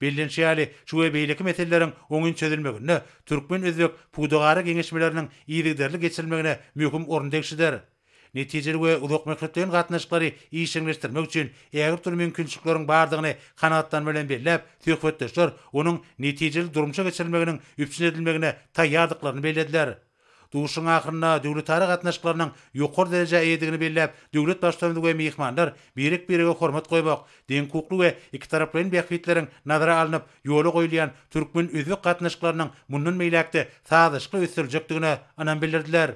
Bellenişi ýaly, şu we beýleki meseleleriň oňyn çözülmeginde türkmen-özbek pudagara geňeşmeleriniň yzygiderli geçirilmegine möhüm orun degişlidir. Netijeli we uzakmöhletleýin gatnaşyklary işjeňleşdirmek üçin ägirt uly mümkinçilikleriň bardygyny kanagatlanma bilen belläp, söhbetdeşler onuň netijeli durmuşa geçirilmeginiň üpjün edilmegine taýýardyklaryny bellediler. Duşuşygyň ahyrynda döwletara gatnaşyklarynyň ýokary derejä eýedigini belläp, döwlet Baştutany we myhmanlar birek-birege hormat goýmak, deňhukukly we ikitaraplaýyn bähbitleriň nazara alnyp ýola goýulýan türkmen-özbek gatnaşyklarynyň mundan beýläk-de sazlaşykly ösdüriljekdigine ynam bildirdiler.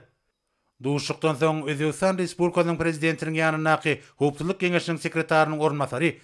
Duşuşykdan soň Özbegistan Respublikasynyň Prezidentiniň ýanyndaky Howpsuzlyk geňeşiniň sekretarynyň orunbasary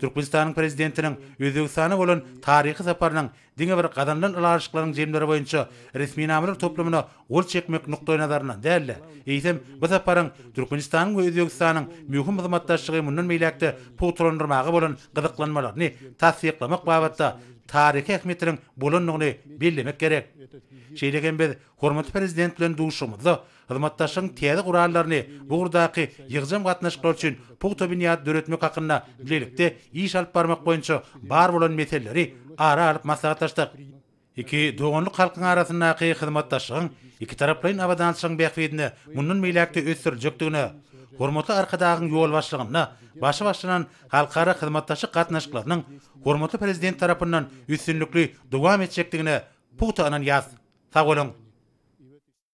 Türkmenistanyň Prezidentiniň Özbegistana bolan taryhy saparynyň diňe bir gazanylan ylalaşyklaryň jemleri boýunça resminamalar toplumyna gol çekmek nukdaýnazaryndan däl-de, eýsem, bu saparyň Türkmenistanyň we Özbegistanyň möhüm hyzmatdaşlygy mundan beýläk-de pugtalandyrmaga bolan gyzyklanmalaryny tassyklamak babatda taryhy ähmiýetiniň bolandygyny bellemek gerek. Şeýle hem biz hormatly Prezident bilen duşuşygymyzda Hyzmatdaşlygyň täze gurallaryny bu ugurdaky ýygjam gatnaşyklar üçin pugta binýady döretmek hakynda bilelikde iş alyp barmak boýunça bar bolan meseleleri ara alyp maslahatlaşdyk. Iki doganlyk halkyň arasyndaky hyzmatdaşlygyň ikitaraplaýyn abadançylygyň bähbidine mundan beýläk-de ösdüriljekdigine, hormatly Arkadagyň ýolbaşçylygynda başy başlanan halkara hyzmatdaşlyk gatnaşyklarynyň hormatly Prezident tarapyndan üstünlikli dowam etjekdigine pugta ynanýarys. Sag boluň!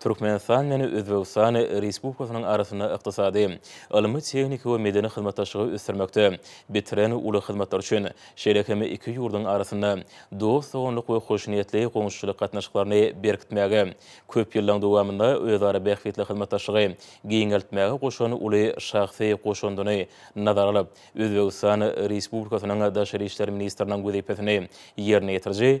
Türkmenistan bilen Özbegistan Respublikasynyň arasynda ykdysady, ylmy-tehniki we medeni hyzmatdaşlygy ösdürmekde bitiren uly hyzmatlary üçin, şeýle hem iki ýurduň arasynda dost-doganlyk we hoşniýetli goňşuçylyk gatnaşyklaryny berkitmäge, köp ýyllaryň dowamynda özara bähbitli hyzmatdaşlygy giňeltmäge goşan uly şahsy goşandyny nazara alyp, Özbegistan Respublikasynyň Daşary işler ministriniň wezipesini ýerine ýetiriji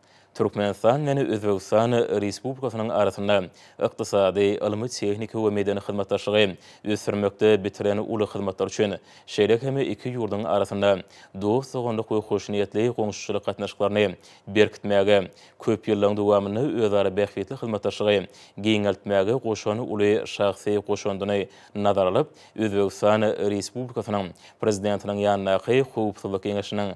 Türkmenistan bilen Özbegistan Respublikasynyň arasynda ykdysady, ylmy-tehniki we medeni hyzmatdaşlygy ösdürmekde bitiren uly hyzmatlary üçin, şeýle hem iki ýurduň arasynda dost-doganlyk we hoşniýetli goňşuçylyk gatnaşyklaryny berkitmäge, köp ýyllaryň dowamynda özara bähbitli hyzmatdaşlygy giňeltmäge goşan uly şahsy goşandyny nazara alyp, Özbegistan Respublikasynyň Prezidentiniň ýanyndaky Howpsuzlyk geňeşiniň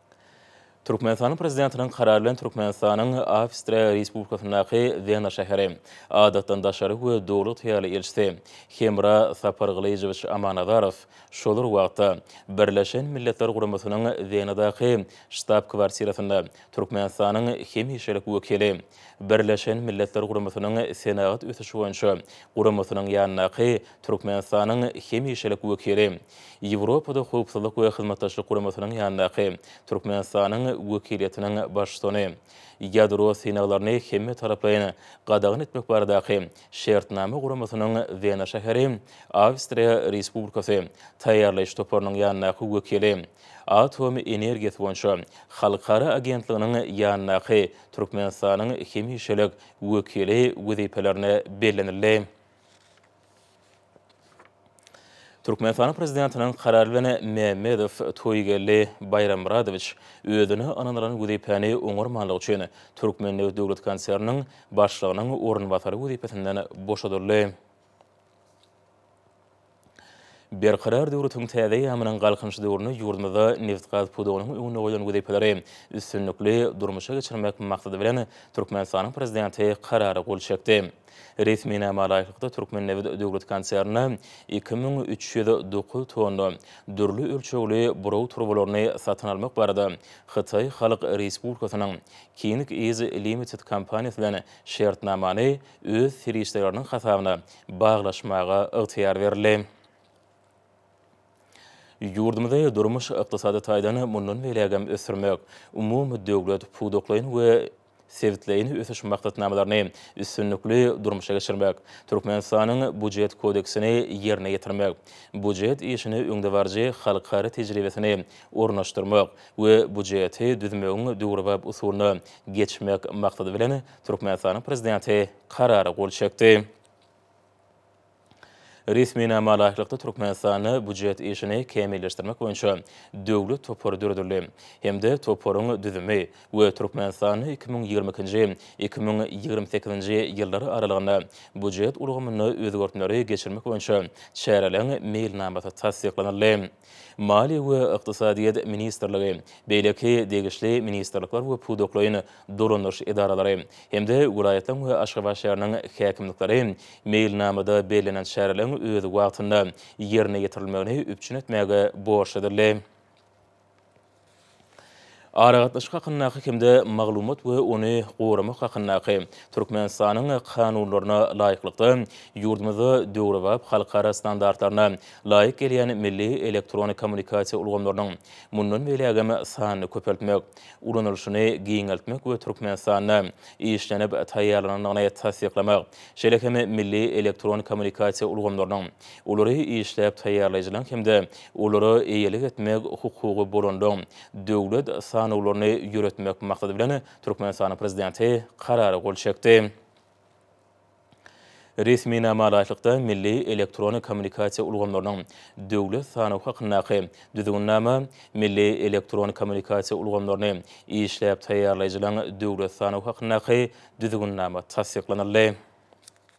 Türkmenistanyň Prezidentiniň Karary bilen Türkmenistanyň Awstriýa Respublikasyndaky Wena şäheri Adatdan daşary we Döwlet Hyýaly Ilçisi Hemra Sapargylyjowiç Amanazarow şol bir wagtda Birleşen Milletler Guramasynyň Wenadaky Ştab-kwartirasynda Türkmenistanyň Hemişelik Wekili Birleşen Milletler Guramasynyň Senagat ösüşi boýunça Guramasynyň ýanyndaky Türkmenistanyň Hemişelik Wekili Ýewropada Howpsuzlyk we Hyzmatdaşlyk Guramasynyň ýanyndaky Türkmenistanyň wekiliýetiniň baştutany ýadro synaglaryny hemmetaraplaýyn gadagan etmek baradaky Şertnama guramasynyň Wena şäheri, Awstriýa Respublikasy, taýýarlaýyş toparynyň ýanyndaky wekili, Atom energiýasy boýunça halkara agentliginiň ýanyndaky Türkmenistanyň hemişelik wekili wezipelerine bellenildi. Türkmenistanyň Prezidentiniň Karary bilen Mämmedow Toýgeldi Baýrammyradowiç özüne ynanylan wezipäni oňarmanlygy üçin Türkmennebit döwlet konserniniň başlygynyň orunbasary wezipesinden boşadyldy. Berkarar döwletiň täze eýýamynyň Galkynyş döwründe ýurdumyzda nebitgaz pudagynyň öňünde goýlan wezipeleri üstünlikli durmuşa geçirmek maksady bilen Türkmenistanyň Prezidenti Karara gol çekdi. Resminama laýyklykda, Türkmennebit döwlet konsernine iki müň üç ýüz dokuz tonna dürli ölçegli buraw turbalaryny satyn almak barada Hytaý Halk Respublikasynyň King Is Limited kompaniýasy bilen şertnamany öz serişdeleriniň hasabyna baglaşmaga ygtyýar berildi. Ýurdumyzy durmuş-ykdysady taýdan mundan beýlägem ösdürmek, umumydöwlet pudaklaýyn we sebitleýin ösüş maksatnamalaryny üstünlikli durmuşa geçirmek, Türkmenistanyň Býujet kodeksini ýerine ýetirmek, býujet işine öňdebaryjy halkara tejribesini ornaşdyrmak we býujeti düzmegiň döwrebap usulyna geçmek maksady bilen, Türkmenistanyň Prezidenti Karara gol çekdi. Resminama laýyklykda, Türkmenistanda býujet işini kämilleşdirmek boýunça döwlet topary döredildi hem-de toparyň düzümi we Türkmenistanda iki müň ýigrimi ikinji, iki müň ýigrimi sekizinji ýyllar aralygynda býujet ulgamynda özgertmeleri geçirmek boýunça çäreleriň meýilnamasy tassyklanyldy. Maliýe we ykdysadyýet ministrligi, beýleki degişli ministrlikler we pudaklaýyn dolandyryş edaralary hem-de welaýatlaryň we Aşgabat şäheriniň häkimlikleri meýilnamada bellenen çäreleriň öz wagtynda ýerine ýetirilmegini üpjün etmäge borçludyrlar. Aragatnaşyk hakyndaky hem-de maglumat we ony goramak hakyndaky Türkmenistanyň Kanunlaryna laýyklykda, ýurdumyzda döwrebap halkara standartlaryna laýyk gelýän milli elektron kommunikasiýa ulgamlarynyň mundan beýlägem sanyny köpeltmek, ulanylyşyny giňeltmek we Türkmenistanda işlenip taýýarlanandygyny tassyklamak, şeýle hem milli elektron kommunikasiýa ulgamlarynyň, olary işläp taýýarlaýjylaryň hem-de Olara eýelik etmek hukugy bolandan, döwlet sanawlaryny ýöretmek maksady bilen, Türkmenistanyň Prezidenti Karara gol çekdi. Resminama laýyklykda, milli elektron kommunikasiýa ulgamlarynyň döwlet sanawy hakyndaky Düzgünnama milli elektron kommunikasiýa ulgamlaryny işläp taýýarlaýjylaryň döwlet sanawy hakyndaky Düzgünnama tassyklanyldy.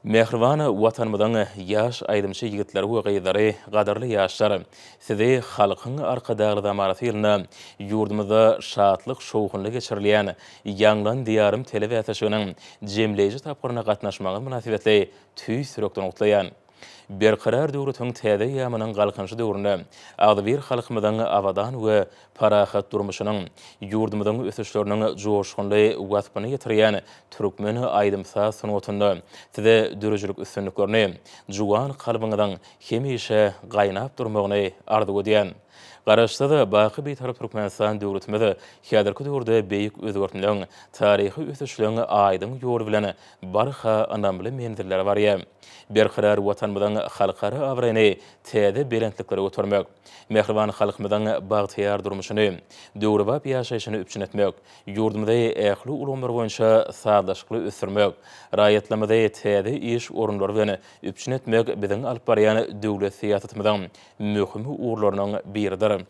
Mähriban Watanymyzyň ýaş aýdymçy ýigitleri we gyzlary, gadyrly ýaşlar! Sizi Halkyň Arkadagly zamanasy ýylynda ýurdumyzda şatlyk-şowhunly geçirilýän Ýaňlan Diýarym telebäsleşiginiň jemleýji tapgyryna gatnaşmagyňyz mynasybetli tüýs ýürekden gutlaýan. Berkarar döwletiň täze eýýamynyň Galkynyşy döwründe agzybir halkymyzyň abadan we parahat durmuşynyň, ýurdumyzyň ösüşleriniň joşgunly waspyny ýetirýän türkmen aýdym-saz sungatynda Size döredijilik üstünliklerini, juwan kalbyňyzyň hemişe gaýnap durmagyny arzuw edýän. Garaşsyz, baky Bitarap Türkmenistan döwletimiz häzirki döwürde beýik özgertmeleň, taryhy ösüşleň aýdyň ýoly bilen barha ynamly menzillere barýar. Berkarar Watanymyzyň halkara abraýyny täze belentliklere götermek, mähriban halkymyzyň bagtyýar durmuşyny, döwrebap ýaşaýşyny üpjün etmek, ýurdumyzy ähli ulgamlar boýunça sazlaşykly ösdürmek, raýatlarymyzy täze iş orunlary bilen üpjün etmek biziň alyp barýan döwlet syýasatymyzyň möhüm ugurlarynyň biridir.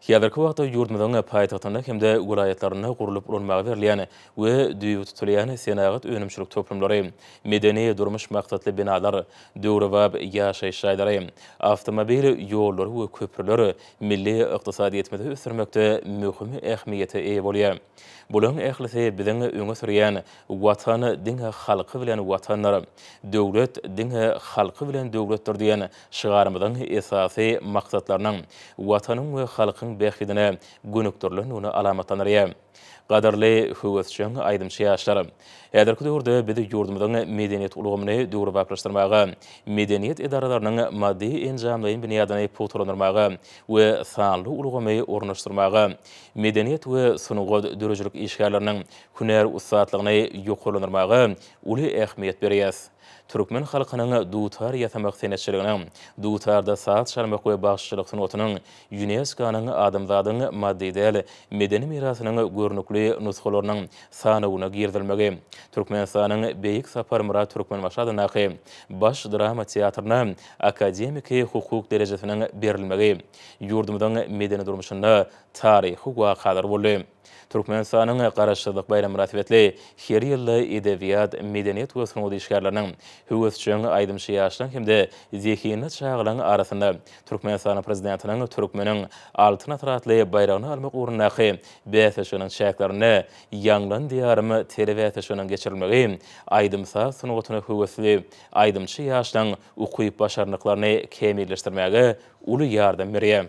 Häzirki wagtda ýurdumyzyň paýtagtynda hem-de welaýatlarynda gurlup ulanmaga berilýän we düýbi tutulýan senagat önümçilik toplumlary, medeni-durmuş maksatly binalar, döwrebap ýaşaýyş jaýlary, awtomobil ýollary we köprüler milli ykdysadyýetimizi ösdürmekde möhüm ähmiýete eýe bolýar. Bularyň ählisi biziň öňe sürýän Watan diňe halky bilen Watandyr, döwlet diňe halky bilen döwletdir diýen Şygarymyzyň esasy maksatlarynyň Watanyň we halkyň bähbidine gönükdirilendigini alamatlandyrýar. Gadyrly, höwesjeň aýdymçy ýaşlar! Häzirki döwürde biz ýurdumyzyň medeniýet ulgamyny döwrebaplaşdyrmaga, medeniýet edaralarynyň maddy-enjamlaýyn binýadyny pugtalandyrmaga we sanly ulgamy ornaşdyrmaga, medeniýet we sungat döredijilik işgärleriniň hünär ussatlygyny ýokarlandyrmaga uly ähmiýet berýäs. Türkmen halkynyň dutar ýasamak senetçiliginiň, dutarda saz çalmak we bagşyçylyk sungatynyň ÝUNESKO-nyň Adamzadyň maddy däl medeni mirasynyň görnükli nusgalarynyň sanawyna girizilmegi, Türkmenistanyň Beýik Saparmyrat Türkmenbaşy adyndaky Baş drama teatryna akademiki hukuk derejesiniň berilmegi ýurdumyzyň medeni durmuşynda taryhy wakalar boldy. Türkmenistanyň Garaşsyzlyk baýramy mynasybetli her ýylda edebiýat, medeniýet we sungat işgärleriniň, höwesjeň aýdymçy ýaşlaryň hem-de zehinli çagalaryň arasynda Türkmenistanyň Prezidentiniň Türkmeniň Altyn asyry atly baýragyny almak ugrundaky bäsleşiginiň çäklerinde Ýaňlan Diýarym telebäsleşiginiň geçirilmegi aýdym-saz sungatyna höwesli aýdymçy ýaşlaryň ukyp-başarnyklaryny kämilleşdirmäge uly ýardam berýär.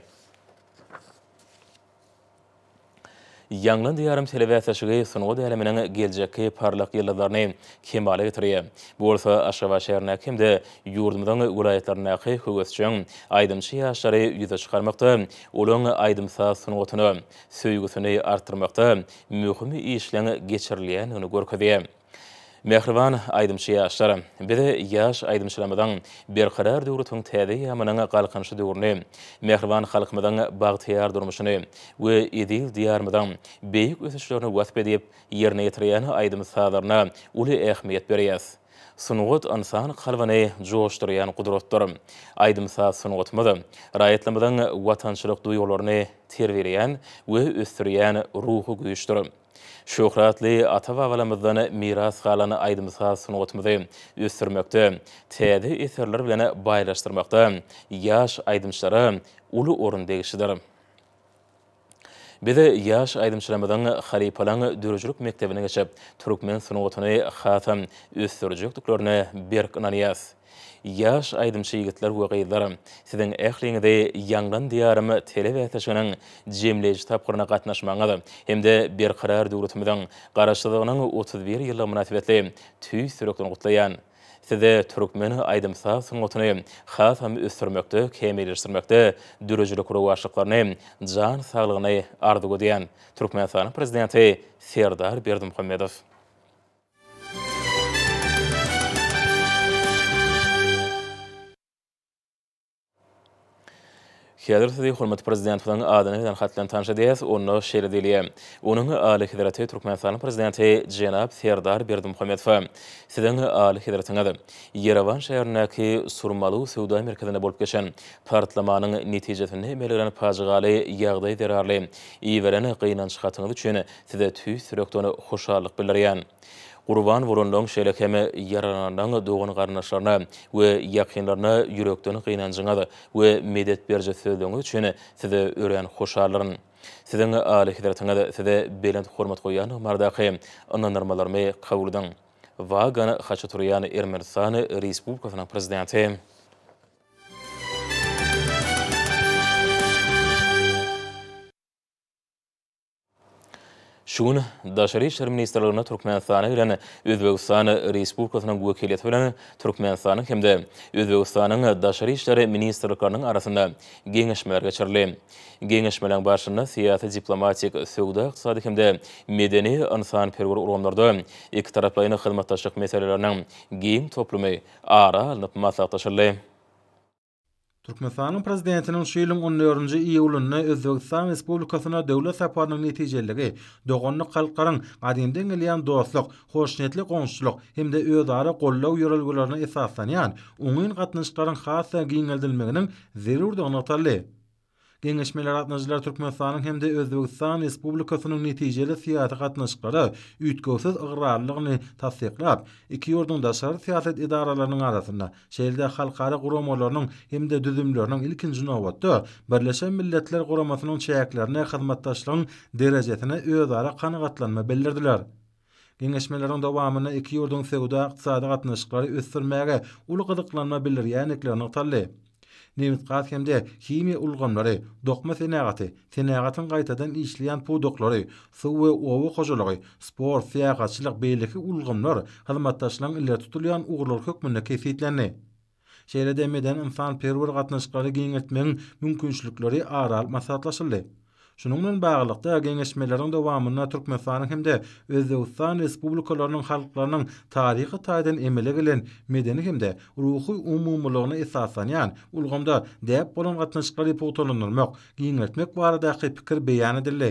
Ýaňlan Diýarym telebäsleşigi sungat äleminiň geljekki parlak ýyldyzlaryny kemala getirýär. Bu bolsa Aşgabat şäherindäki hem-de ýurdumyzyň welaýatlaryndaky höwesjeň aýdymçy ýaşlary ýüze çykarmakda, olaryň aýdym-saz sungatyna söýgüsini artdyrmakda möhüm işleň geçirilýändigini görkezýär. Mähriban aýdymçy ýaşlar, biz ýaş aýdymçylarymyzyň Berkarar döwletiň täze eýýamynyň Galkynyşy döwrüni, mähriban halkymyzyň bagtyýar durmuşyny we eziz Diýarymyzyň beýik ösüşlerini wasp edip, ýerine ýetirýän aýdym-sazlaryna uly ähmiýet berýäs. Sungat ynsan kalbyny joşdurýan gudratdyr. Aýdym-saz sungatymyz raýatlarymyzyň watançylyk duýgularyny terbiýeleýän we ösdürýän ruhy güýçdür. Şöhratly ata-babalarymyzdan miras galan aýdym-saz sungatymyzy ösdürmekde, täze eserler bilen baýlaşdyrmakda ýaş aýdymçylara uly orun degişlidir. Biz ýaş aýdymçylarymyzyň halypalygyň döredijilik mekdebini geçip, türkmen sungatyny hasam ösdürjekdiklerine berk ynanýarys. Ýaş aýdymçy ýigitler we gyzlar, siziň ähliňizi Ýangyn Diýarym telebäsleşiginiň jemleýji tapgyryna gatnaşmagyňyz hem-de Berkarar döwletimiziň Garaşsyzlygynyň otuz bir ýyllygy mynasybetli tüýs ýürekden gutlaýan. Size türkmen aýdym-saz sungatyny hasam ösdürmekde, kämilleşdirmekde döredijilik rowaçlyklaryny, jan saglygyny arzuw edýän. Türkmenistanyň Prezidenti Serdar Berdimuhamedow. Häzir sizi hormatly Prezidentimiziň adyna eden hat bilen tanyş edýäs, onda şeýle diýilýär, Onuň Alyhezreti Türkmenistanyň Prezidenti jenap Serdar Berdimuhamedowa, Siziň Alyhezretiňiz Ýerewan şäherindäki Surmalu söwda merkezinde bolup geçen partlamanyň netijesinde emele gelen pajygaly ýagdaý zerarly iberen gynanç hatyňyz üçin Size tüýs ýürekden hoşallyk bildirýän. Gurban bolanyň, şeýle hem ýaralananyň dogan-garyndaşlaryna we ýakynlaryna ýürekden gynanjyňyz we medet beriji sözleriňiz üçin size örän hoşaldyryn. Siziň Alyhezretiňiz size belent hormat goýýandygy baradaky ynandyrmalarymy kabul ediň. Wagan Haçaturýan Ermenistan Respublikasynyň Prezidenti. Şu gün Daşary işler ministrliginde Türkmenistana gelen Özbegistan Respublikasynyň wekiliýeti bilen Türkmenistanyň hem-de Özbegistanyň Daşary işler ministrlikleriniň arasynda geňeşmeler geçirildi. Geňeşmeleriň barşynda syýasy-diplomatik, söwda-ykdysady hem-de medeni-ynsanperwer ulgamlarda ikitaraplaýyn hyzmatdaşlyk meseleleriniň giň toplumy ara alnyp maslahatlaşyldy. Türkmenistanyň Prezidentiniň şu ýylyň on dördünji iýulynda Özbegistan Respublikasyna döwlet saparynyň netijeliligi doganlyk halklaryň gadymdan gelýän dostluk, hoşniýetli goňşuçylyk hem-de özara goldaw ýörelgelerine esaslanýan oňyn gatnaşyklaryň has-da giňeldilmeginiň zerurdygy nygtaldy. Geňeşmelere gatnaşyjylar Türkmenistanyň hem-de Özbegistan Respublikasynyň netijeli syýasy gatnaşyklara üýtgewsiz ygrarlylygyny tassyklap, iki ýurduň daşary syýasat edaralarynyň arasynda, şeýle-de halkara guramalarynyň hem-de düzümleriniň, ilkinji nobatda, Birleşen Milletler Guramasynyň çäklerinde hyzmatdaşlygyň derejesine özara kanagatlanma bildirdiler. Geňeşmeleriň dowamynda iki ýurduň söwda-ykdysady gatnaşyklary ösdürmäge uly gyzyklanma bildirýändikleri nygtaldy. Nebitgaz hem-de himiýa ulgamlary, dokma senagaty, senagatyň gaýtadan işleýän pudaklary, suw we oba hojalygy, sport, syýahatçylyk, beýleki ulgamlar hyzmatdaşlygyň ileri tutulýan ugurlary hökmünde kesgitlendi. Şeýle-de medeni-ynsanperwer gatnaşyklary giňeltmegiň mümkinçilikleri ara alyp maslahatlaşyldy. Şunuň bilen baglylykda, geňeşmeleriň dowamynda Türkmenistanyň hem-de Özbegistan Respublikalarynyň halklarynyň taryhy taýdan emele gelen medeni hem-de ruhy umumylygyna esaslanýan ulgamda däp bolan gatnaşyklary pugtalandyrmak, giňeltmek baradaky pikir beýan edildi.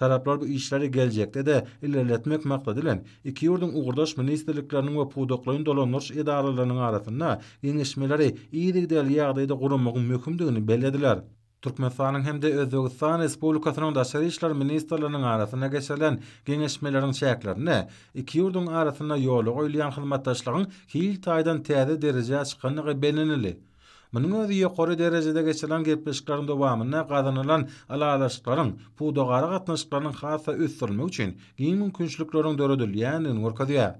Taraplar bu işleri geljekde-de ilerletmek maksady bilen, iki ýurduň ugurdaş ministrlikleriniň we pudaklaýyn dolandyryş edaralarynyň arasynda geňeşmeleri yzygiderli ýagdaýda guramagyň möhümdigini bellediler. Türkmenistanyň hem-de Özbegistan Respublikasynyň daşary işler ministrleriniň arasynda geçirilen geňeşmeleriň çäklerinde iki ýurduň arasynda ýola goýulýan hyzmatdaşlygyň hil taýdan täze derejä çykandygy bellenildi. Munuň özi ýokary derejede geçirilen gepleşikleriň dowamynda gazanylan ylalaşyklaryň pudagara gatnaşyklarynyň has-da ösdürilmegi üçin giň mümkinçilikleriň döredilýändigini görkezýär.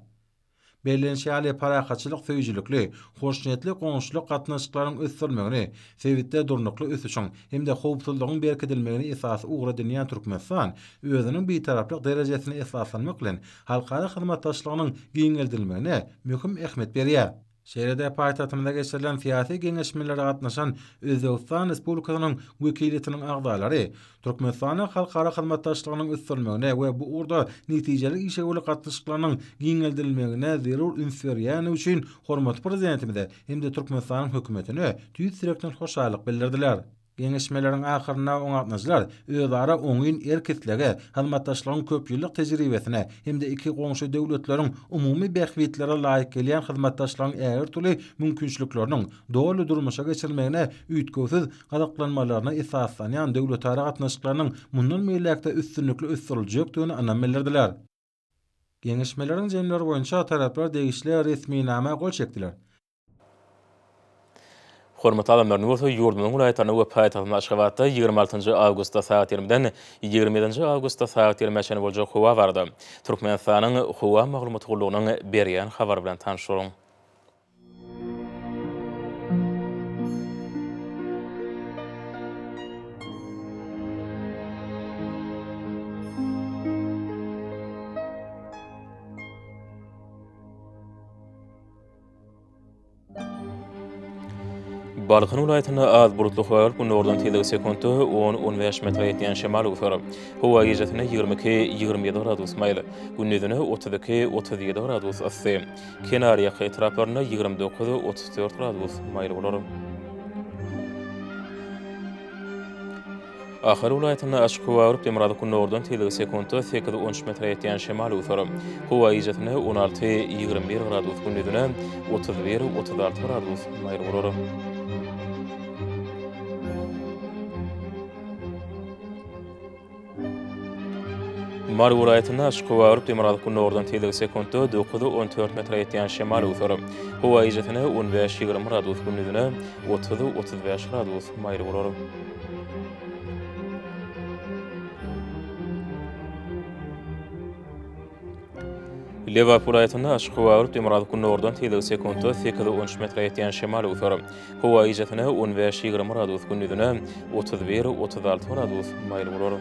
Bellenişi ýaly, parahatçylyk söýüjilikli, hoşniýetli goňşuçylyk gatnaşyklaryň ösdürilmegini, sebitde durnukly ösüşiň hem-de howpsuzlygyň berkidilmegini esasy ugur edinýän Türkmenistan özüniň Bitaraplyk derejesine esaslanmak bilen halkara hyzmatdaşlygynyň giňeldilmegine möhüm ähmiýet berýär. Şeýle-de paýtagtymyzda geçirilen syýasy geňeşmelere gatnaşan Özbegistan Respublikasynyň wekiliýetiniň agzalary Türkmenistana halkara hyzmatdaşlygynyň ösdürilmegine we bu ugurda netijeli işewürlik gatnaşyklarynyň giňeldilmegine zerur üns berýäni üçin hormatly Prezidentimize hem-de Türkmenistanyň Hökümetine tüýs ýürekden hoşallyk bildirdiler. Geňeşmeleriň ahyrynda oňatnyjylar özara oňyn erk-islege, hyzmatdaşlygyň köpýyllyk tejribesine hem-de iki goňşy döwletleriň umumy bähbitlere laýyk gelýän hyzmatdaşlygyň ägirtüli mümkinçilikleriniň doly durmuşa geçirilmegine üýtgewsiz gyzyklanmalaryna esaslanýan döwletara gatnaşyklarynyň mundan beýläk-de üstünlikli ösdüriljekdigine ynam bildirdiler. Geňeşmeleriň jemleri boýunça taraplar degişli resminama gol çekdiler. Hormatly adamlaryň bolsa ýurdumyzyň welaýatlarynda we paýtagtymyz Aşgabatda ýigrimi altynjy awgustda sagat ýigrimiden ýigrimi ýedinji awgustda sagat ýigrimä çenli boljak howa barada Türkmenistanyň Howa maglumat gullugynyň berýän habary bilen tanyş boluň. Balkan welaýatynda az bulutly howa bolup, günordan tizligi sekuntda on, on bäş metre ýetýän şemal öwser. Howa gijesi ýigrimi iki, ýigrimi ýedi gradus maýyl, gündizine otuz iki, otuz ýedi gradus yssy. Kenarýaka etraplarynda ýigrimi dokuz, otuz dört gradus maýyl bolar. Ahal welaýatynda açyk howa agyryp, demirgazyk gündogardan tizligi sekuntda sekiz, on üç metre ýetýän şemal öwser. Howa gijasynda on alty, ýigrimi bir gradus, gündizine otuz bir, otuz alty gradus maýyl bolar. Mary welaýatynda açyk howa örüp, demirgazyk gündogardan tizligi sekuntda dokuz, on dört metre ýetýän şemal öwser. Howa gijesi-ne on bäş, ýigrimi gradus, gündizine otuz, otuz bäş gradus maýyl bolar. Lebap welaýatynda açyk howa alyp, demirgazyk gündogardan tizligi sekuntda sekiz on üç metre ýetýän şemal öwser. Howa gijesine on bäş ýigrimi gradus, gündizine otuz bir otuz alty gradus maýyl bolar.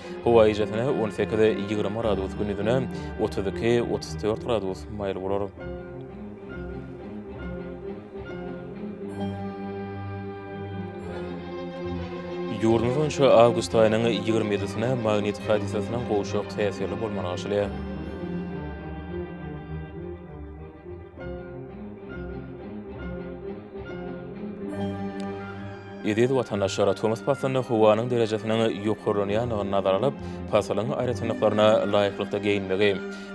Howa ejesine on sekiz, ýigrimi gradus gündizine otuz iki, otuz dört gradus maýyl bolar. Ýurdumyz boýunça awgust aýynyň ýigrimi ýedisine magnit hadisasynyň gowşak täsirli bolmagy artýar. Eziz watandaşlar, tomus paslynda howanyň derejesiniň ýokarlanýandygyny nazara alyp, pasylyň aýratynlyklaryna laýyklykda geýinmegi,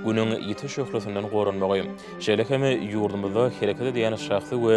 Günüň ýiti şöhlesinden goranmagy, şeýle hem ýurdumyzda hereket edýän şahsy we